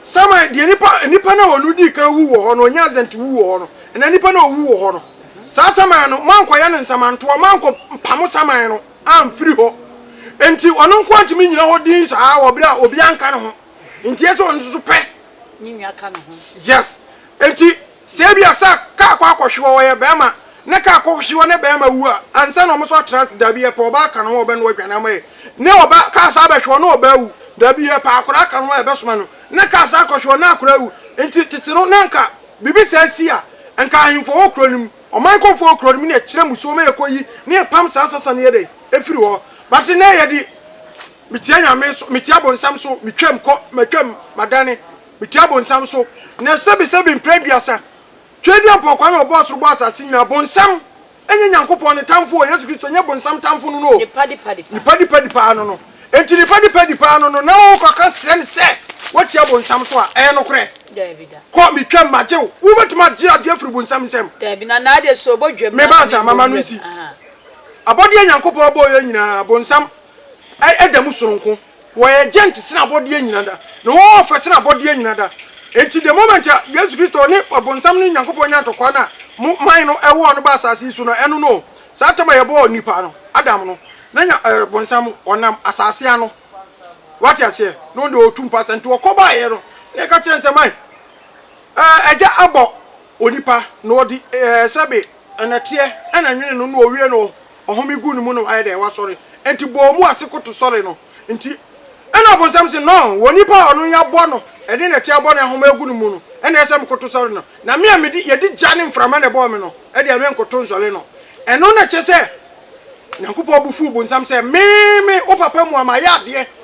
Saman deɛ nnipa nnipa no a wɔn dii kan wu wɔ hɔ no wɔnya azɛnti wu wɔ hɔ no ɛna nnipa no a wɔwu wɔ hɔ no saa saman no moankɔ yɛ no nsamantoɔ moankɔ mpamo saman no amfiri hɔ nti ɔno nko ara ntumi nyina hɔ din saa wɔ berɛ a obiara nka ne ho nti ɛsɛ ɔno nso pɛ ne nua ka ne ho yes nti Sɛ ebia sɛ car kɔ akɔhwe hɔ ɔyɛ bɛɛma ne car kɔ hwe hɔ ne bɛɛma wu a ansa na ɔmo nso atena ase dabi yɛpɛ ɔbaa ka ne ho ɔbɛnoa aduane ama yɛ ne ɔbaa car san bɛhwe hɔ ne ɔbaa awu dabi yɛpɛ akɔdaa ka ne ho a yɛbɛsoma no ne car san kɔhwe hɔ ne akɔdaa awu nti tete no na nka biribi saa si a nka ahenfo wɔ kuro no mu ɔman kɔmfo wɔ kuro no mu ne yɛkyerɛ musuo ma yɛkɔ yi ne yɛpam saa sasa ne yɛdɛn efiri hɔ but nnɛ yɛde metia nyame so metia bonsam so metwam kɔ matwam madane Metia bonsam so nnɛ sɛbesɛbe mprɛ aduasa. Tweaduampɔ kwa na ɔbɔɔ soro bɔɔ asase nyinaa. Bonsam nyɛ Nyankopɔn ne tamfo o, Yesu Kristo nyɛ bonsam tamfo no no o. Nipadipadi paa no no. Enti nipadipadi paa no no na wo kɔka kyerɛ no sɛ woatia bonsam so a, ɛyɛ nokorɛ? Daabi da. Kɔ, metwam, magye wo. Wo bɛtumi agye adeɛ afiri bonsam nsam? Daabi, na na adeɛ so ɔbɔ dwam na meba ansa, mama no nsi. Abɔdeɛ Nyankopɔn bɔeɛ nyinaa, bonsam da mu sononko. Wɔyɛ gyɛnt sen abɔdeɛ nyina da, na wɔwɔ ɔfɛ sen abɔdeɛ nyina da. Enti the moment a Yesu Kristo ne ɔbonsam ne Nyankopɔn nyaa ntɔkwa no a mo man no ɛwɔɔ no baa asase yi so no, ɛno no o, saa tam a yɛbɔɔ nipa no, Adam no, na Nya ɛɛ bonsam ɔnam asase ano, wate aseɛ, na ɔno deɛ ɔtu mpasa, nti ɔkɔ baeɛ no na yɛka kyerɛɛ no sɛ man. Agya abɔ onipa na ɔde sɛbe nnɛteɛ na nwene no na ɔwie no ɔhome gu ne mu no ayɛ dɛn? Wasɔre. Enti bɔɔ mu ase koto sɔre no nti na ɔbonsam se no wɔ nipa a ɔno yɛabɔ no de nnɛteɛ abɔ no ahome agu ne mu no na ɛsɛ mekoto sɔre no na me a mede yɛde gya ne mframa na ɛbɔɔ me no deɛ menkoto nsɔre no ɛno na kyerɛ sɛ Nyankopɔn bo fuu bonsam sɛ me me wo papa mu a mayɛ adeɛ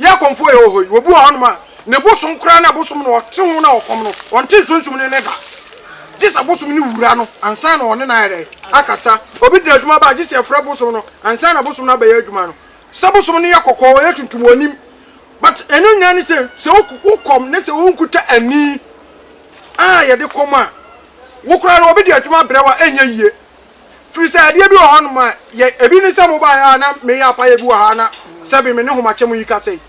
Yɛn kɔmfoɔ yɛ wɔ hɔ yi, obi wɔ hɔnom a, ne bosom koraa ne bosom no, ɔte ho na ɔkɔm no, ɔnte nsunsum no nne da. Gye sɛ bosom no wura no ansa na ɔne no ayɛ dɛn? Akasa. Obi de adwuma ba a, gye sɛ ɛfrɛ bosom no ansa na bosom no abɛyɛ adwuma no. Sɛ bosom no yɛ kɔkɔɔ, ɔyɛ tuntum, ɔnim. But ɛno nyinaa ne sɛ, sɛ wokɔm na sɛ wonkuta ani a yɛde kɔm a, wo koraa no obi de adwuma brɛ wo a, ɛnyɛ yie. Firi sɛ adeɛ bi wɔ hɔ nom a yɛ, ebi ne sɛ mobaeɛ a na meyɛ apaeɛ bi wɔ ha na sɛbe me ne homakyɛm yi kasa yi.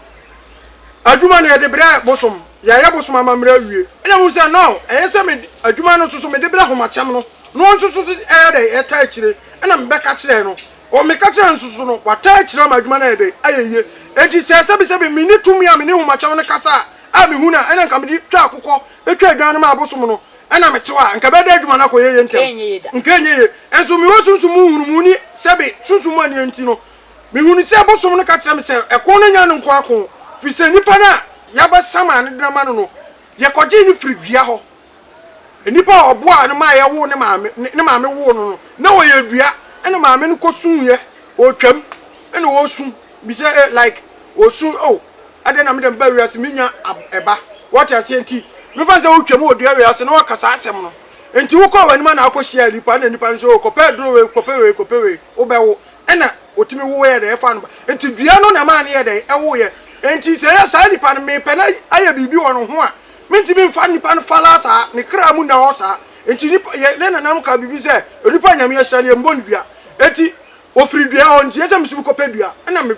Adwuma no yɛde brɛ bosom, yɛayɛ bosom amammerɛ awie. Ɛna mehu sɛ now ɛyɛ sɛ mede adwuma no nso so mede brɛ homakyɛm no na ɔno nso so ɛyɛ dɛn, ɛtaa akyire. Ɛna mebɛka kyerɛɛ no, ɔ meka kyerɛɛ no nso so no, wataa akyire ama adwuma no ayɛ dɛn, ayɛ yie. Enti sɛ sɛbe sɛbe menni tumi a mene homakyɛm no kasa a, a mehu no a, ɛna nka mede twa akokɔ Etwa adwan no ma abosom no na me tew a, nka bɛda adwuma no akɔ yɛyɛ ntɛm. Nka ɛnyɛ ye. Nso mewɔ sunsum mu nhunumu ni sɛ be sunsum mu anea nti no, me hunu sɛ abosom no ka kyerɛ me sɛ ɛko no nya no nko ako, firi sɛ nipa no a yaba sama ne dena ma no no, yɛkɔ gyee no firi dua hɔ. Nipa a ɔboaa no ma yɛwoo ne maame, ne maame woo no no, na ɔyɛ dua, ɛna maame no kɔ suuɛ, ɔretwam, ɛna ɔresu. Me sɛ eh like osu oh adɛn na me dɛm ba wiase me nya ab ɛba wate aseɛ nti me fa sɛ wo twam wɔ dua wei ase na waka saa asɛm no nti wo kɔɔ w'anim ana akɔ hyiaa nipa ɛna nipa no nso oh kɔpɛ aduro wei kɔpɛ wei kɔpɛ wei wo bɛ wo ɛna otumi wo yɛ dɛn ɛfa no ba nti dua no na ɛmaa no yɛ dɛn ɛwo yɛ nti sɛ yɛ saa nipa no me pɛ na ayɛ biribi wɔ no ho a me ntumi mfa nipa no falaa saa ne kra mu nna hɔ saa nti nipa yɛ ne nananom ka biribi sɛ onipa nyame ahyira no yɛ mbɔ no dua nti Ɔfiri dua hɔ, nti ɛsɛ sɛ mesu mekɔpɛ dua. Ɛnna me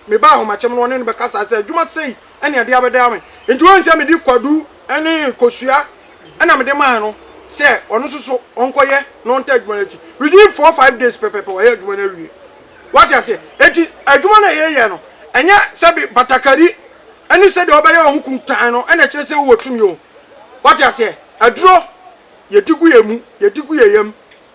me ba ahomakyɛm no, ɔne no bɛkasae sɛ, Adwuma sei ne ɛde abɛdaa me. Enti woahu sɛ mede kwadu ne kosua na mede mae no sɛ ɔno nso so ɔnkɔyɛ na ɔntaa adwuma no akyi. Within four, five days pɛpɛɛpɛ wayɛ adwuma no awie. Woate aseɛ? Enti adwuma no a yɛyɛ no, ɛnyɛ sɛ bi batakari ne sɛdeɛ wobɛyɛ wo ho kuntann no na ɛkyerɛ sɛ wowɔ tumi o. Woate aseɛ? Aduro, yɛdi gu yɛn mu, yɛdi gu yɛn yam.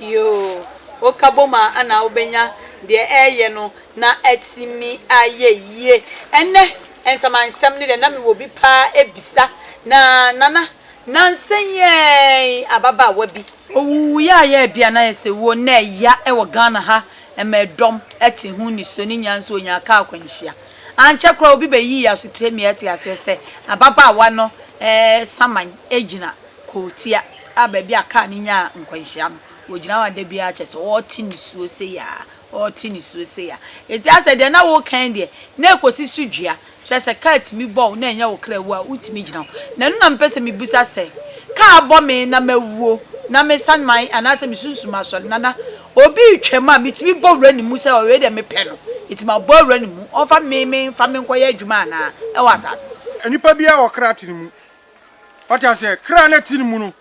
Yoo, wo ka bom a ɛna wo bɛnya deɛ ɛyɛ no na atumi ayɛ yie. Ɛnɛ nsɛmansɛm no deɛ na mewɔ bi paa ɛbisa na Nana nansa yi ɛɛn ababaawa bi. Ɔwuuiɛ a yɛɛ bia na yɛsɛ wuo no na ɛya ɛwɔ Ghana ha ɛma ɛdɔm ɛte ho nisuo ne nya nso ɔnyaa kaa akwanhyia. Ankyɛ koraa obi bɛyii asotire mia te aseɛ sɛ ababaawa no ɛɛsaman ɛgyina Kurotia a baabi a kaa no nyaa nkwanhyia no, wɔgyina hɔ a da biara kyerɛ sɛ wɔrete nisuo sei ara, wɔrete nisuo sei ara. Enti asɛ deɛ na wokan deɛ, na ɛkɔsi so dua. Kyerɛ sɛ kaa tumi bɔ wo na ɛnyɛ wo kra wu a, wotumi gyina hɔ. Na ɛno na mepɛ sɛ mebisa sɛ, kaa bɔ me na mawuo na mesan man anaasɛ me sunsum asɔre na na obi retwam a, metumi bɔ wura ne mu sɛ wei deɛ mepɛ no, enti mabɔ wura no mu, ɔmfa me me mfa me nkɔyɛ adwuma anaa ɛwɔ asase so? Nipa biara wɔ kra tene mu. Ɔte aseɛ, kra no te ne mu no,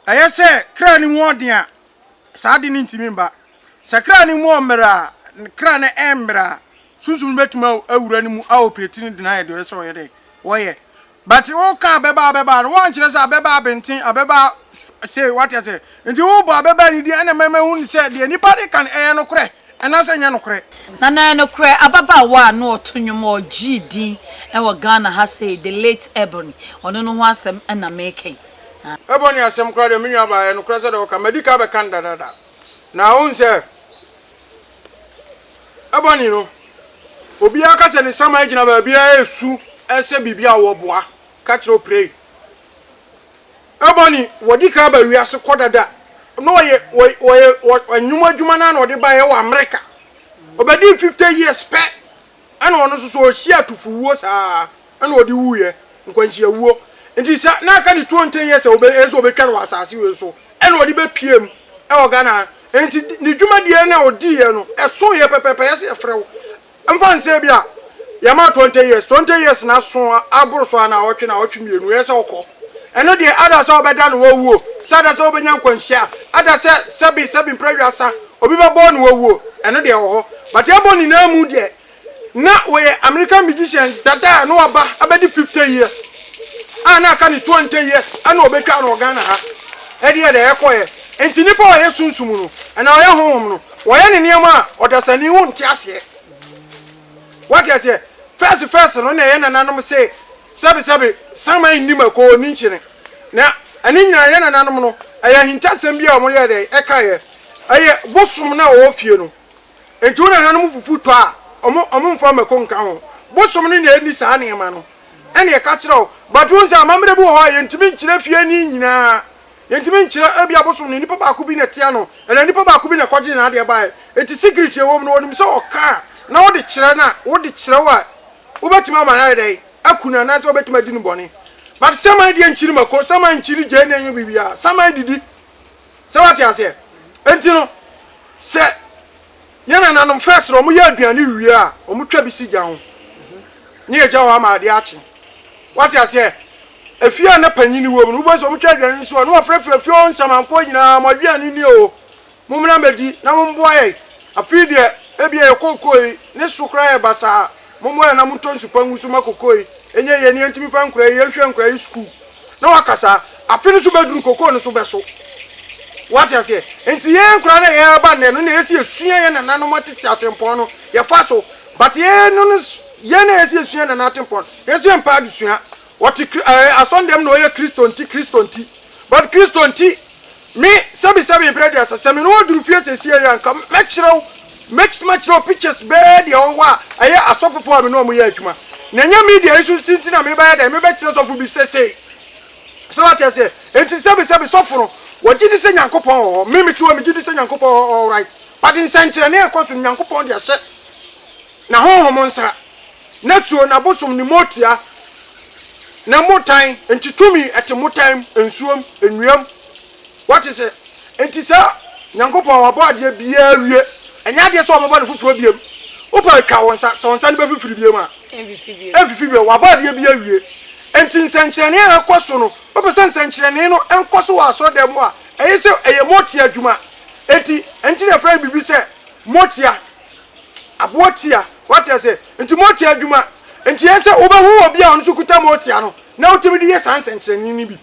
ɛyɛ sɛ kra no mu ɔden a, saa ade no ntumi mba. Sɛ kra no mu ɔmmerɛ a, kra no ɛmmerɛ a, sunsum no bɛtumi awura no mu a operate no de no ayɛ deɛ ɔyɛ sɛ ɔyɛ dɛn, ɔyɛ. But woka abɛbaa abɛbaa no, woankyerɛ sɛ abɛbaa benten, abɛbaa sei, wate aseɛ. Enti wo ba bɛba ne din, ɛnna mɛma ahunu sɛ deɛ nnipa de ka no yɛ nokorɛ anaasɛ ɛnyɛ nokorɛ. Na na ɛyɛ nokorɛ, ababaawa a na ɔto nnwom a ɔgyee din wɔ Ghana ha sɛ yi, The Late Ebony, ɔno no ho asɛm na mereka yi. Ebony asɛm koraa deɛ, me nuabaa, ɛyɛ nokorɛ sɛdeɛ woka no, madi ka abɛka no dadaada. Na wohu sɛ, Ebony no, obiara ka sɛ ne saman gyina baabiara resu sɛ biribi a wɔboa ka kyerɛ wo prei. Ɛbɔ ne wɔde ka ba wiase kɔ dada na ɔyɛ ɔyɛ ɔnwom adwuma no na ɔde ba yɛ wɔ America ɔbɛdi fifty years pɛ ɛna ɔno nso so ɔhyia atufo wuo saa ɛna ɔde wu yɛ nkwanhyia wuo nti sɛ na aka ne twenty years a ɔbɛ ɛsɛ ɔbɛtwa no wɔ asase wei so ɛna ɔde bɛ pie mu ɛwɔ Ghana nti ne dwumadie na ɔdi yɛ no ɛso yɛ pɛpɛpɛ yɛsɛ yɛfrɛ wo Mfa nsɛ ebi a yɛma twenty years, twenty years no aso aboro so ara na awɔtwe na awɔtwe mmienu ɛyɛ sɛ wokɔ. Ɛno deɛ ada sɛ wɔbɛda no wawuo, sɛ ada sɛ wobɛnya nkwanhyia, ada sɛ sɛbi sɛbi mprɛ wiasa obi bɛbɔ no wawuo, ɛno deɛ ɛwɔ hɔ. But ɛbɔ nyinaa mu deɛ na wɔyɛ American magician dada a na waba abɛdi fifty years a na aka no twenty years ɛna wɔbɛtwa no wɔ Ghana ha. Ɛdeɛ dɛ ɛkɔeɛ. Nti nnipa a wɔyɛ sunsum no anaa wɔyɛ honhom no Wɔyɛ no nneɛma a ɔdasani ho nte aseɛ. Wate aseɛ? First first no na ɛyɛ nananom se sɛbe sɛbe saman nni mako ɔnni nkyene. Na ɛno nyinaa ɛyɛ nananom no ɛyɛ ahintasɛm bi a wɔyɛɛ dɛn ɛkaeɛ. Ɛyɛ bosom no a wɔwɔ fie no. Nti wo nananom fufu tɔ a wɔn wɔn mfa mako nka ho. Bosom no na ɛnni saa nneɛma no ɛna ɛka kyerɛ wo. But wohu sɛ amammerɛ bi wɔ hɔ a yɛntumi nkyerɛ fie ni nyinaa. Yɛntumi nkyerɛ, ebia abosom no nipa baako bi na ɛtea no, anaa nipa baako bi na ɛkɔgyee n'adeɛ baeɛ. Enti secret a ɛwɔ mu no, wɔnim sɛ ɔka a, na wode kyerɛ no a, wode kyerɛ wo a, wobɛtumi ama no ayɛ dɛn? Aku no anaasɛ wobɛtumi adi no bɔne. But saman deɛ nkyiri mako, saman nkyiri gyeene nyɛ biribiara, saman didi. Sɛ woate aseɛ? Enti no, sɛ. Yɛn nananom fɛɛ sɛ wɔyɛ aduane wie a, wɔtwa bi si gya ho na yɛgya hɔ ama adeɛ akye. Woate aseɛ? Efie a na panin wom no, wobɛhu sɛ wɔtwa aduane no si hɔ na wɔafrɛfrɛ efie hɔ nsamanfoɔ nyinaa, Mo aduane nie o, mommra mmɛdi na mommoa yɛn. Afei deɛ, ebia yɛn kookoo yi, ne so koraa yɛ basaa, mommoa yɛn na montɔ nsu pa ngu so mma kookoo yi. Ɛnyɛ yɛn nea ntumi fa nkora yi, yɛn hwɛ nkora yi sukuu na waka saa, afe no so bɛduru kokoo no so bɛso, wate aseɛ, nti yɛn nkora na yɛn aba nnɛ no na yɛsi yɛsua yɛn nananom atete atempɔn no yɛfa so, but yɛn no no yɛn na yɛsi yɛsua yɛn nana atempɔn no yɛsi yɛn mpɛ adesua, ɔte kri ɛɛ asɔndan mu na ɔyɛ Kristo nti Kristo nti, but Kristo nti, me sɛbi sɛbi mpere aduasa sɛ me ne wo duru fie sɛsiɛ yi a nka mɛkyerɛ wo Mɛtumi akyerɛw pictures bɛyɛ deɛ ɔwɔ a ɛyɛ asɔfo foɔ a me ne wɔn yɛ adwuma. Nea ɛnyɛ media yi so nti na mebɛyɛ dɛn mebɛkyerɛ sɔfo bi sesei. So wate aseɛ? Enti sɛbe sɛbe sɔfo no wɔgye di sɛ Nyankopɔn wɔ hɔ. Me metew a megye di sɛ Nyankopɔn wɔ hɔ alright. But nsɛnkyerɛnne a ɛkɔ so no Nyankopɔn de ahyɛ na honhom nsa. Na suo, na bosom, ne motia, ne mmotan, enti tumi ɛte mmotan mu, nsuo mu, nnua mu. Woate sɛ? Enti saa. Nyankopɔn, Wabɔ adeɛ biara awie. Ɛnyɛ adeɛ sɛ Ɔbɛbɔ no foforɔ biom. Wopɛ a twa wo nsa, sɛ wo nsa no bɛfifiri biom a. Ɛmfifi biom. Wabɔ adeɛ biara awie. Enti nsɛnkyerɛnee a ɛkɔ so no, wopɛ sɛ nsɛnkyerɛnee no nkɔ so wɔ asɔrdan mu a, ɛyɛ sɛ ɛyɛ motia adwuma. Enti, ɛno nti na yɛfrɛ no biribi sɛ motia, aboɔ tia. Woate aseɛ? Enti motia adwuma. Enti ɛyɛ sɛ wobɛhu obi a ɔno nso kuta motia no, na wotumi de yɛ saa nsɛnkyerɛnee no bi.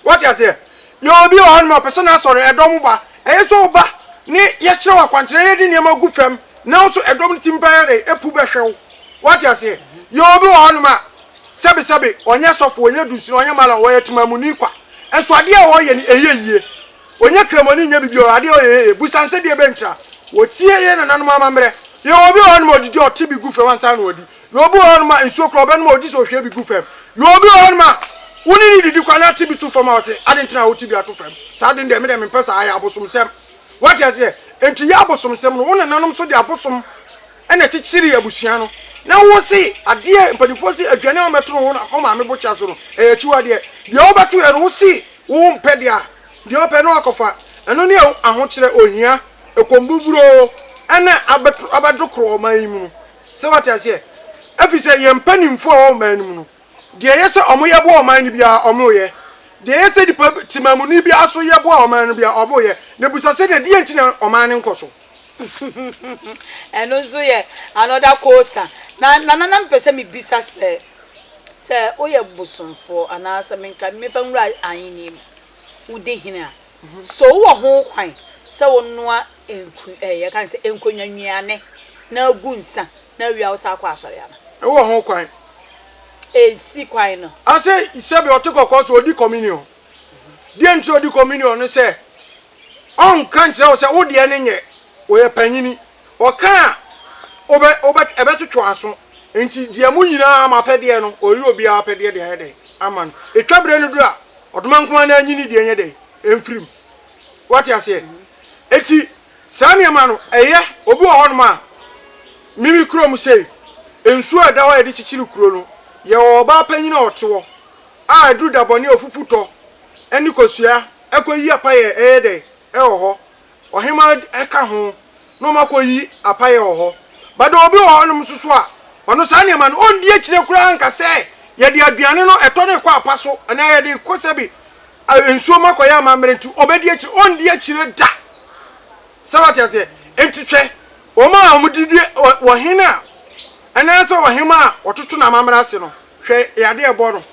Wate aseɛ? Yɛwɔ obi wɔ hanom a ɔpɛ sɛ n'asɔre, ɛdɔm ba. Ɛyɛ sɛ ɔba, ne yɛkyerɛ wo akwankyerɛ, yɛde nneɛma gu fam, na wo nso ɛdɔm no tumi bɛyɛ dɛn? Ɛpu bɛhwɛ wo. Wate aseɛ? Yɛwɔ obi wɔ hanom a, sɛbesɛbe, ɔnyɛ sɔfo, ɔnyɛ dunsini, ɔnyɛ mallam, ɔyɛ temamuni kwa, nso adeɛ a ɔyɛ no, ɛnyɛ yie. Ɔnyɛ kramoni, nyɛ biribiara, adeɛ a ɔyɛ yɛ yie. Busa no sɛ, Deɛbɛn ntira? Wɔtie yɛn nananom amammerɛ. Yɛwɔ obi wɔ hanom a, ɔdidi a, ɔte bi gu fam ansa na wadi. Na obi wɔ hɔnom a, nsuo koraa ɔbɛnom a, ɔgye sɛ ɔhwie bi gu fam. Na obi wɔ hɔnom a, wo ne no didi kwa na ate bi to fam a, ɔse, Adɛn nti na wote bi ato fam? Saa ade no deɛ, me deɛ mempɛ saa, ɛyɛ abosomsɛm. Woate aseɛ? Enti yɛ abosomsɛm no. Wo nananom nso de abosom na ɛkyekyeree abusua no. Na wo se, adeɛ a mpanimfoɔ se, aduane a wɔbɛto no wo maame bokyea so no, ɛyɛ akyiwadeɛ. Deɛ wobɛtoeɛ no, wo se wompɛ deɛ a, deɛ ɔpɛ no akɔfa. Ɛno ne ahokyerɛ, ohia. Ɛkɔm buburoo ɛna abɛto abɛdo korɔ ɔman yi mu no sɛ wate aseɛ ɛfiri sɛ yɛn mpaninfoɔ a ɛwɔ ɔman no mu no deɛ ɛyɛ sɛ ɔmo yɛ boa ɔman no biara ɔmo yɛ deɛ ɛyɛ sɛ nipa temamuni biara so yɛ boa ɔman no biara ɔmo yɛ na bisa sɛ na deɛn nti na ɔman no nkɔ so. Ɛno nso yɛ another kosa. Na Nana na mepɛ sɛ me bisa sɛ, sɛ woyɛ bosomfoɔ anaa sɛ menka mefa nwura ahennie mu. wodi hene a, so wowɔ ho kwan sɛ wonoa nkonnwa nnuane na gu nsã na awie a wosan akɔ asɔre anaa? Wowɔ ho kwan. Ensi kwan no. Ase sɛbe ɔte kɔkɔɔ so odi communion. Deɛ nti ɔdi communion ne sɛ ɔnka nkyerɛ wo sɛ wo deɛ no nyɛ. Ɔyɛ panyini. Ɔka a, wobɛ, wobɛ, ɛbɛtwetwe w'aso. Enti deɛ mo nyinaa mo apɛdeɛ no, ɔreyɛ obiara apɛdeɛ de ayɛ dɛn? Ama no. Ɛtwa berɛ no duru a, ɔdoma nko ara na anyini deɛ nyɛ dɛn? Ɛmfiri mu. Woate aseɛ? Enti, saa nneɛma no, ɛyɛ. Obi wɔ hɔnom a, me, me kurom sei, nsuo a ɛda hɔ a yɛde kyekyere kuro no, yɛwɔ ɔbaa panyini a ɔte hɔ, a ɛduru dabɔne a ɔfufu tɔ, ne kosua, ɛkɔyi apa yɛ, ɛyɛ dɛn? Ɛwɔ hɔ. ɔhemmaa ka ho na wɔakɔyi apaeɛ wɔ hɔ. But there will be wɔ hɔnom nso so a, ɔno saa nneɛma no, ɔndi akyire koraa nka sɛ yɛde aduane no, ɛtɔ no rekɔ apa so, anaa yɛde rekɔ sɛbe nsuo mu akɔyɛ amammerɛ nti, ɔbɛdi akyire, ɔndi akyire da. Sɛ wate aseɛ? Nti hwɛ, wɔn a wɔde di ɔhene a, anaasɛ ɔhemmaa a wɔtoto no amammerɛ ase no, hwɛ yadeɛ a ɛbɔ no.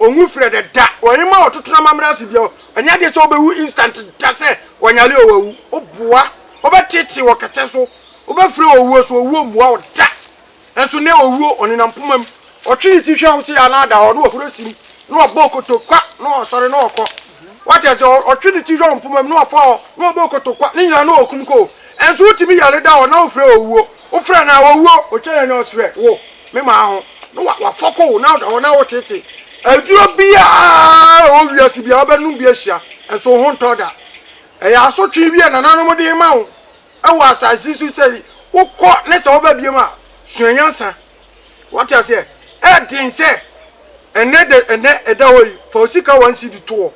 Onnwu frɛ dɛ da. Ɔnnyima ɔtoto n'amambra ase bio. Ɔnnyɛ adze sɛ obewu instant da sɛ ɔnyare o oewu. Oboa. Ɔbɛtseetsee wɔ kɛtɛ so. Obefura owuo so. Owuo mmboa wo da. Nso ndɛ owuo ɔnenam poma mu. Ɔtwe ne tsi hwɛ wo tse a na ada hɔ na ɔhoro sim na ɔbɔ okotokwa na ɔsɔre na ɔkɔ. Wɔatse ase? Ɔtwe ne tsi hwɛ wo mpoma mu na ɔfa hɔ na ɔbɔ okotokwa. Ne nyina na ɔkum kɔ o. Nso wotumi yare da hɔ na wofrɛ owuo. Wofrɛ no a ɔwuo, ɔtwa n'ani ɔse hwɛ wo me maa ho na wafɔko wo na ɔda hɔ na woteetee. Aduro biara a ɛwɔ wiase biara wobɛnom bi ahyia nso wo ho ntɔ da. Ɛyɛ asotwee bi a nananom de rema wo wɔ asase yi so sɛ wokɔ na sɛ woba biom a sua nyansa. Wate aseɛ? Ɛyɛ den sɛ ɛnnɛ ɛda hɔ yi fa wo sika one cedi to hɔ.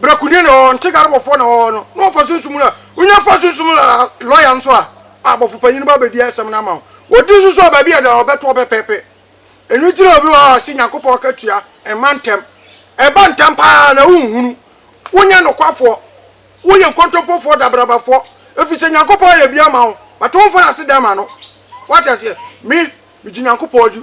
Brakuni na ɔwɔ hɔ, ntekarobɔfoɔ na ɔwɔ hɔ no, na wɔfa sunsum mu na, wonya fa sunsum mu na lɔya nso a, a bɔfopanyin no ba bɛdi asɛm no ama wo. Wɔdi nso so a, baabi a ɛda no wɔbɛto hɔ pɛpɛɛpɛ. Ɛno nti na obi wɔ hɔ a, ɔse Nyankopɔn akatua mma ntɛm. Ɛba ntɛm pa ara na wonhunu. Wonyɛ nokwafoɔ. Woyɛ nkontompofoɔ, daberabafoɔ. Ɛfiri sɛ Nyankopɔn ayɛ bi ama wo, but womfa no ase da ma no. Woate aseɛ? Me, megye Nyankopɔn di.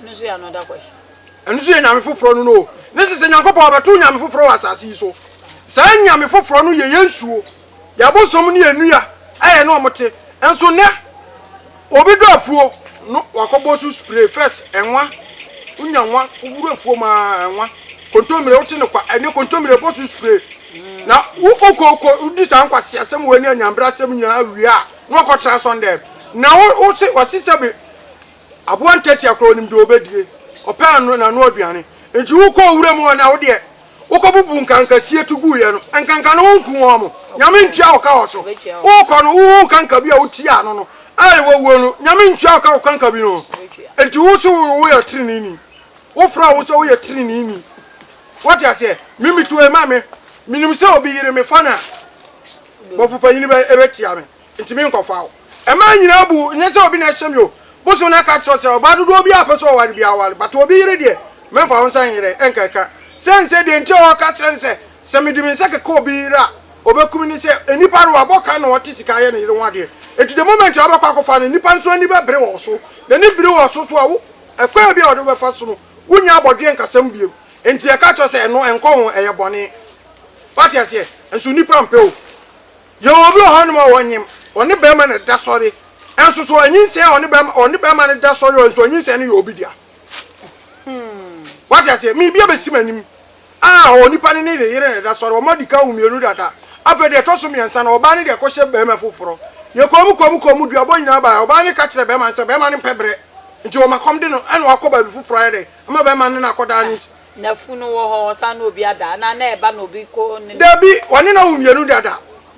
Ɛno nso yɛ another question. Ɛno nso yɛ nyame foforɔ no no o. Ne sese Nyankopɔn ɔbɛto nyame foforɔ wɔ asase yi so. Saa nyame foforɔ no yɛ yɛn suo, yɛn abosom ne yɛn nnua a yɛne wɔn te. Nso nnɛ obi dɔ afuo no wakɔbɔ so spray first ɛnwa, wonya nwa wowura afuo mu a ɛnwa, kontommire wote no kwa ɛne kontommire bɔ so spray na wokɔ wokɔ wodi saa nkwaseasɛm wei ne anyanbrasɛm nyinaa wie a na wakɔtra asɔndɛm na wose wase sɛbe Aboa ntiatia koraa onim deɛ ɔbɛdie, ɔpɛ ano n'ano aduane. Enti wokɔɔ wuram hɔ na wodeɛ wokɔbubuu nkankasie to guiɛ no, nkanka no wonku wɔn? Nyame ntua wo ka wɔ so. Wokɔ no wohuu kanka bi a wotiaa ano no a wawuo no, Nyame ntua wo ka wɔ kanka bi no ho? Enti wo se woyɛ treneeni? Wofrɛ wo ho sɛ woyɛ treneeni? Woate aseɛ? Me metu wei ma me, menim sɛ obi yere me fa no a, bɔfo panyini bɛtia me, enti menkɔfa wo. Mmaa nyinaa bu wo, nyɛ sɛ obi na ɛhyɛ me o. Bosom no aka akyerɛ wo sɛ ɔbaa dodoɔ biara a ɔpɛ sɛ ɔware biara ware, but obi yere deɛ, mɛmfa wo nsa nyerɛ, ɛnka ɛka. Sɛn sɛ deɛ nti a ɔreka kyerɛ no sɛ, sɛ mede me nsa keka obi yere a, ɔbɛku me ne sɛ, nnipa no, wɔabɔ ka na wɔte sika ayɛ ne yere ho adeɛ. Enti the moment a wobɛkɔ akɔfa no, nnipa nso ani bɛbere wɔ wo so. N'ani bere wɔ wo so nso a, wo, ɛkwan biara a ɔde wo bɛfa so no, wonnya abɔdweɛ nkasam bio. Enti yɛka akyerɛ wo sɛ, ɛno, ɛnkɔ ho, ɛyɛ bɔne. Woate aseɛ? Nso nnipa mpɛ o. Yɛwɔ obi wɔ hɔnom a ɔnyem, ɔne barima na ɛda sɔre, nso so ɔanyinsɛn a ɔne barima, ɔne barima no da sɔre, nso ɔnyinsɛn no yɛ obi dea. Wate aseɛ? Miribi abɛsi m'anim a onipa no ne ne yere na ɛda sɔre, wɔn adi kan wo mmienu dada, afei deɛ ɛtɔ so mmiɛnsa no, ɔbaa no deɛ kɔhyɛ barima foforɔ. Yɛkɔɔ mu, kɔɔ mu, kɔɔ mu, duabɔ nyinaa baeɛ, ɔbaa no ka kyerɛɛ barima no sɛ barima no mpɛ berɛ, nti wɔma kɔm de no, ɛna wakɔ baabi foforɔ ayɛ dɛn? Ɔma bɛrima no ne no akɔdaa ne nsa. Nafunu wɔ hɔ, ɔsan ne obi ada. Anaa na ɛba na obi kɔ ne no. Dabi, ɔne no awo mmienu dada.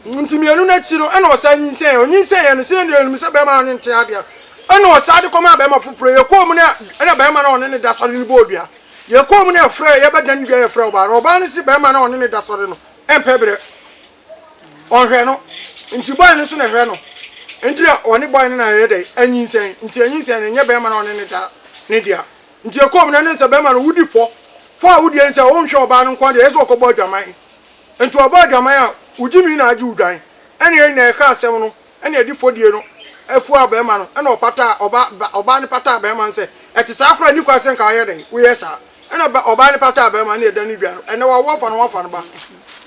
Nti mmienu no akyi no, ɛna ɔsan nyinsɛnee. Ɔnyinsɛneeɛ no, sɛdeɛ nnipa no nim sɛ bɛrima no ne no te adeɛ no, ɛna ɔsan de kɔmaa bɛrima foforɔ. Yɛkɔɔ mu no, ɛna bɛrima no a ɔne no da sɔre no bɔɔ dua. Yɛkɔɔ mu no, yɛfrɛɛ, yɛbɛdane dua, yɛfrɛɛ ɔbaa no. Ɔbaa no se bɛrima no a ɔne no da sɔre no mpɛ berɛ. Ɔnhwɛ no, nti boy no so na ɛhwɛ no, nti na ɔne boy no na ɛyɛ dɛn anyinsɛn, nti anyinsɛn no ɛnyɛ bɛɛma no a ɔne no da ne dea, nti ɛkɔɔ mu no ɛne sɛ bɛɛma no wodi fɔ, fɔ a wodi ɛne sɛ wonhwɛ ɔbaa no nkoa deɛ ɛyɛ sɛ ɔkɔ bɔ adwaman, nti ɔbɔ adwaman a wogyimi na agye wo dwan, ɛne yɛn nyinaa yɛka asɛm no. Ɛna adifodie no fuaa barima no, ɛna ɔpataa, ɔbaa, ba, ɔbaa no pataa barima no sɛ, Ɛte saa koraa a, ɛnni kwan sɛ anka woayɛ dɛn? Woyɛɛ saa? Ɛna ba, ɔbaa no pataa barima no, ɛna ɛda no dwa no, ɛnnɛ wawo ɔfa no ho afa no ba.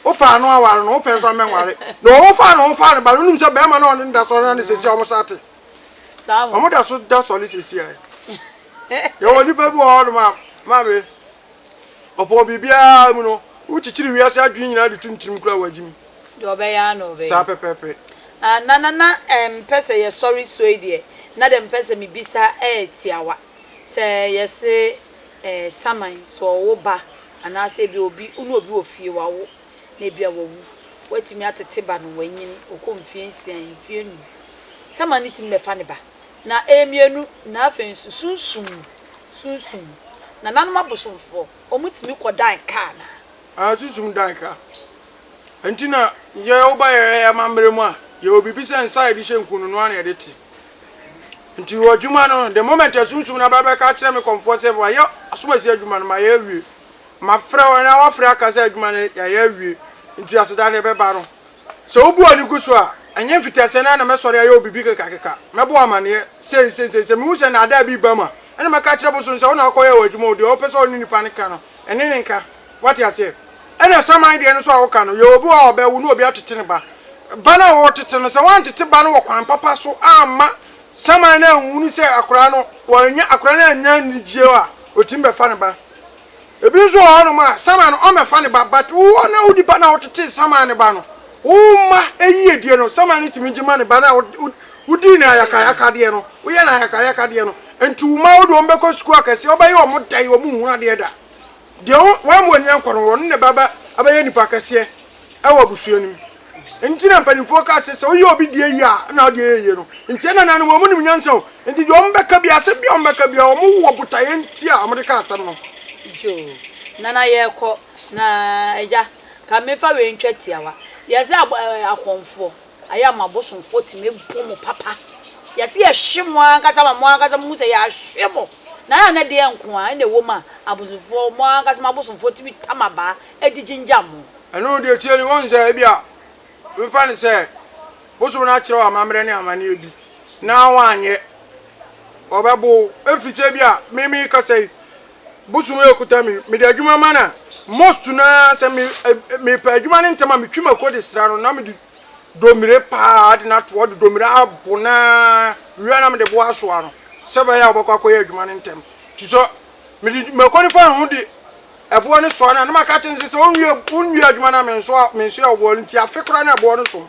Wopɛ a, ano aware no, wopɛ nso a, mɛnware. Na wɔwo faa no ho faa no ba no, wonim sɛ barima no a ɔne no da sɔre no ne seesei a wɔsan te. Wɔda so da sɔre seesei a. Yɛwɔ nnipa bi wɔ hɔnom a, maame, Ɔpɔn biribiara mu no, wokyikyiri wiase adwene nyinaa de tom tirim koraa a wagye mu. Deɛ ɔbɛyɛ ara na ɔbɛyɛ. Saa pɛpɛɛpɛ. Ah, na na na mempɛ sɛ yɛsɔre soe deɛ, na dɛ mepɛ sɛ mebisa ɛyɛ tiawa. Sɛ yɛse eh, saman, sɛ ɔwo ba, anaasɛ ebia obi, wo ne obi wɔ fie, wawo, na ebia wawu. Woatumi atete ba no, wanyin, ɔkɔ mfie nsia, mfie nnum. Saman no tumi bɛfa ne ba. Na mmienu, na afei nso sunsum, sunsum, nananom abosomfoɔ, wɔtumi kɔ dan ka anaa? Aah, sunsum dan ka. Ɛnti na yɛ woba yɛ amammerɛ mu a, yɛ wɔ biribi sɛ nsa a yɛde hyɛ nku no, no ara na yɛde te. Nti wɔ adwuma no, the moment a sunsum no aba bɛka akyerɛ me kɔmfoɔ sɛ wɔayɛ asomasi adwuma no, mayɛ awie. Mafrɛ wɔn na wɔafrɛ aka sɛ adwuma no yɛayɛ awie, nti aseda no ɛbɛba no. Sɛ wobu ani gu so a, ɛnyɛ mfitiaseɛ no ara na mɛsɔre ayɛ wo biribi kekakeka, mɛbɔ wo amanneɛ sei, sei, sei. Sɛ mehu sɛ nnaadaa bi reba mu a, ɛnna mɛka akyerɛ bosom sɛ, Wo na wokɔyɛɛ w'adwuma o, deɛ wopɛ sɛ wo ne nipa no ka no, ɛne no nka. Woate aseɛ? Ɛnna saman deɛ no nso a woka no, yɛwɔ obi wɔ hɔ a ɔbɛwo na obi atete ne ba. Ba no a woretete no, sɛ woantete ba no wɔ kwan papa so amma Samuel no anhunu sɛ akwadaa no wannya akwadaa no annya anigyeɛ a ɔtumi bɛfa ne ba. Ebi nso wɔ hɔnom a Samuel no ɔmmɛfa ne ba but wo a na wodi ba no a wotetee Samuel ne ba no wo mma yiedie no Samuel no tumi gye ma ne ba no a wodii no ayakayakadeɛ no woyɛ no ayakayakadeɛ no nti wo mma wo de wɔn bɛkɔ sukuu akɛseɛ wobɛyɛ wɔn dɛn wɔn nhu adeɛ da Deɛ wamma w'ani ankɔ no, ɔno na ɛbɛba abɛyɛ nipa kɛseɛ wɔ abusua no mu. Nti na mpanimfoɔ ka sɛ, sɛ woyɛ obi deɛ yie a, ɛna wo deɛ yɛ yie no. Nti ɛna na no, wɔn nim nyansa o. Nti deɛ wɔn bɛka biara, asɛm biara wɔn bɛka biara, wɔn wɔ botaeɛ nti a wɔn de ka asɛm no. Joo. Nana yɛkɔ na agya ka mefa wei ntwa tiawa yɛse abo ɛɛ akɔmfoɔ ayɛ a mo abosomfoɔ tumi bo mo papa yɛse yɛhwe mo ankasa ma mo ankasa mo hu sɛ yɛahwe mo. Na ɛyɛ a na deɛn nko ara na ɛwɔ mu a abosomfoɔ, mo ankasa mo abosomfoɔ tumi tam abaa de gyingyam mo? Ɛno, deɛ ɛteɛ ni, woahu sɛ ebia mfa no sɛ bosom no akyerɛ wo amammerɛ ne amanneɛ bi na woanyɛ, wɔbɛbo wo. Ɛfiri sɛ ebia me merekasa yi, bosom rekuta me, mede adwuma ma no a, most no ara sɛ me, mepɛ adwuma no ntɛm a, metwi mako de sra no na mede domire pa ara de no ato hɔ, de domire abɔ no ara wie a na mede bo asoa no. sɛ ɛbɛyɛ a wɔbɛkɔ akɔyɛ adwuma no ntɛm. Nti sɛ mede mako no fa ne ho de ɛboɔ no soa no a, na maka akyerɛ no sɛ, sɛ wonwie wonwie adwuma no a mensoa mensoɛ wo boɔ no nti afe koraa na ɛboɔ no som.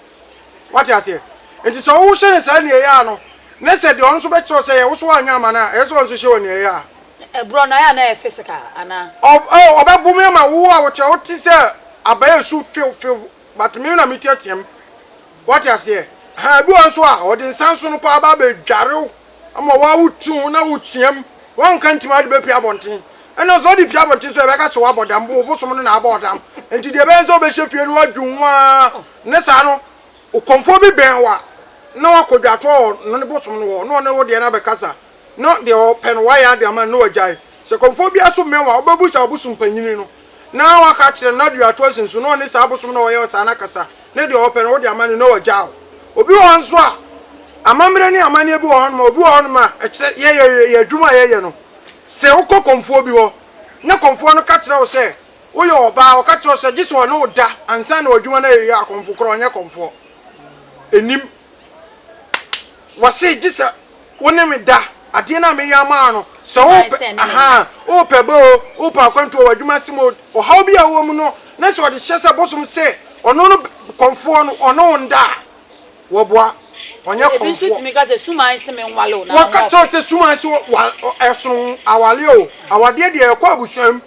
Wate aseɛ? Nti sɛ wohyɛ no saa nea ɛyɛ a no, na sɛ deɛ ɔno nso bɛkyerɛ wo sɛ yɛ, wo nso woanyɛ amma no a, ɛyɛ sɛ ɔno nso hyɛ wɔ nea ɛyɛ a. Na ɛborɔ no, ɛyɛ a na ɛyɛ physical anaa? Ɔ, ɔ, ɔbɛbome ama wo a wokyerɛ wote sɛ abaa a ɛsu few few, but me na meteateam. Wate aseɛ? Ahaa, ebi wɔ hɔ nso a, wɔde nsa nso no paa ba abɛdware wo ama wo ara wote ho na woteam. Woanka ntim a, wode bɛpia abɔnten. Ɛnna sɛ wode pia abɔnten nso a, yɛbɛka sɛ woabɔ dam, wo bosom no na abɔ wo dam. Enti deɛ ɛbɛyɛ ne sɛ wobɛhyɛ fie na woadwo ho ara, ne saa no, ɔkɔmfoɔ bi bɛn wo a, na woakɔ dwatoɔ wɔ ne bosom no hɔ, na ɔne wo deɛ no abɛkasa. na deɛ ɔpɛ no wayɛ ade ama no na wagyae. Sɛ kɔmfoɔ biara so mmɛn wo a, wobɛbu saa ɔbosom panyini no, na woaka akyerɛ no, na adi atorɔ asen so, na ɔne saa abosom no a ɔyɛ wo saa no akasa, na deɛ ɔpɛ no wode ama no, na wagyaa wo. Obi wɔ hɔ nso a, amammerɛ ne amanneɛ bi wɔ hɔnom a, obi wɔ hɔnom a, ɛkyerɛ, yɛ, yɛ, yɛ adwuma a yɛyɛ no. Sɛ wokɔ kɔmfoɔ bi hɔ, na kɔmfoɔ no ka kyerɛ wo sɛ, woyɛ ɔbaa, ɔka kyerɛ wo sɛ, gye sɛ ɔne wo da ansa na w'adwuma no ayɛ yie a, kɔmfo korɔ, ɔnyɛ kɔmfoɔ. Ɛnnim. Wɔse gye sɛ wo ne me da. Adeɛ no a meyɔ ama wo no, sɛ wopɛ ahaa, wopɛ ba oo, wopɛ akwantu wɔ w'adwuma ase mu oo, ɔhaw bi a wowɔ mu no, na sɛ ɔde hyɛ sɛ bosom sɛ ɔno no kɔmfoɔ no, ɔne wo nda a, wɔboa, ɔnyɛ kɔmfoɔ. Ebi nso tumi ka sɛ suman se menwale wo, na wɔka kyerɛ wo sɛ suman se ɛsono aware oo. Awadeɛ deɛ ɛkɔ abusua mu,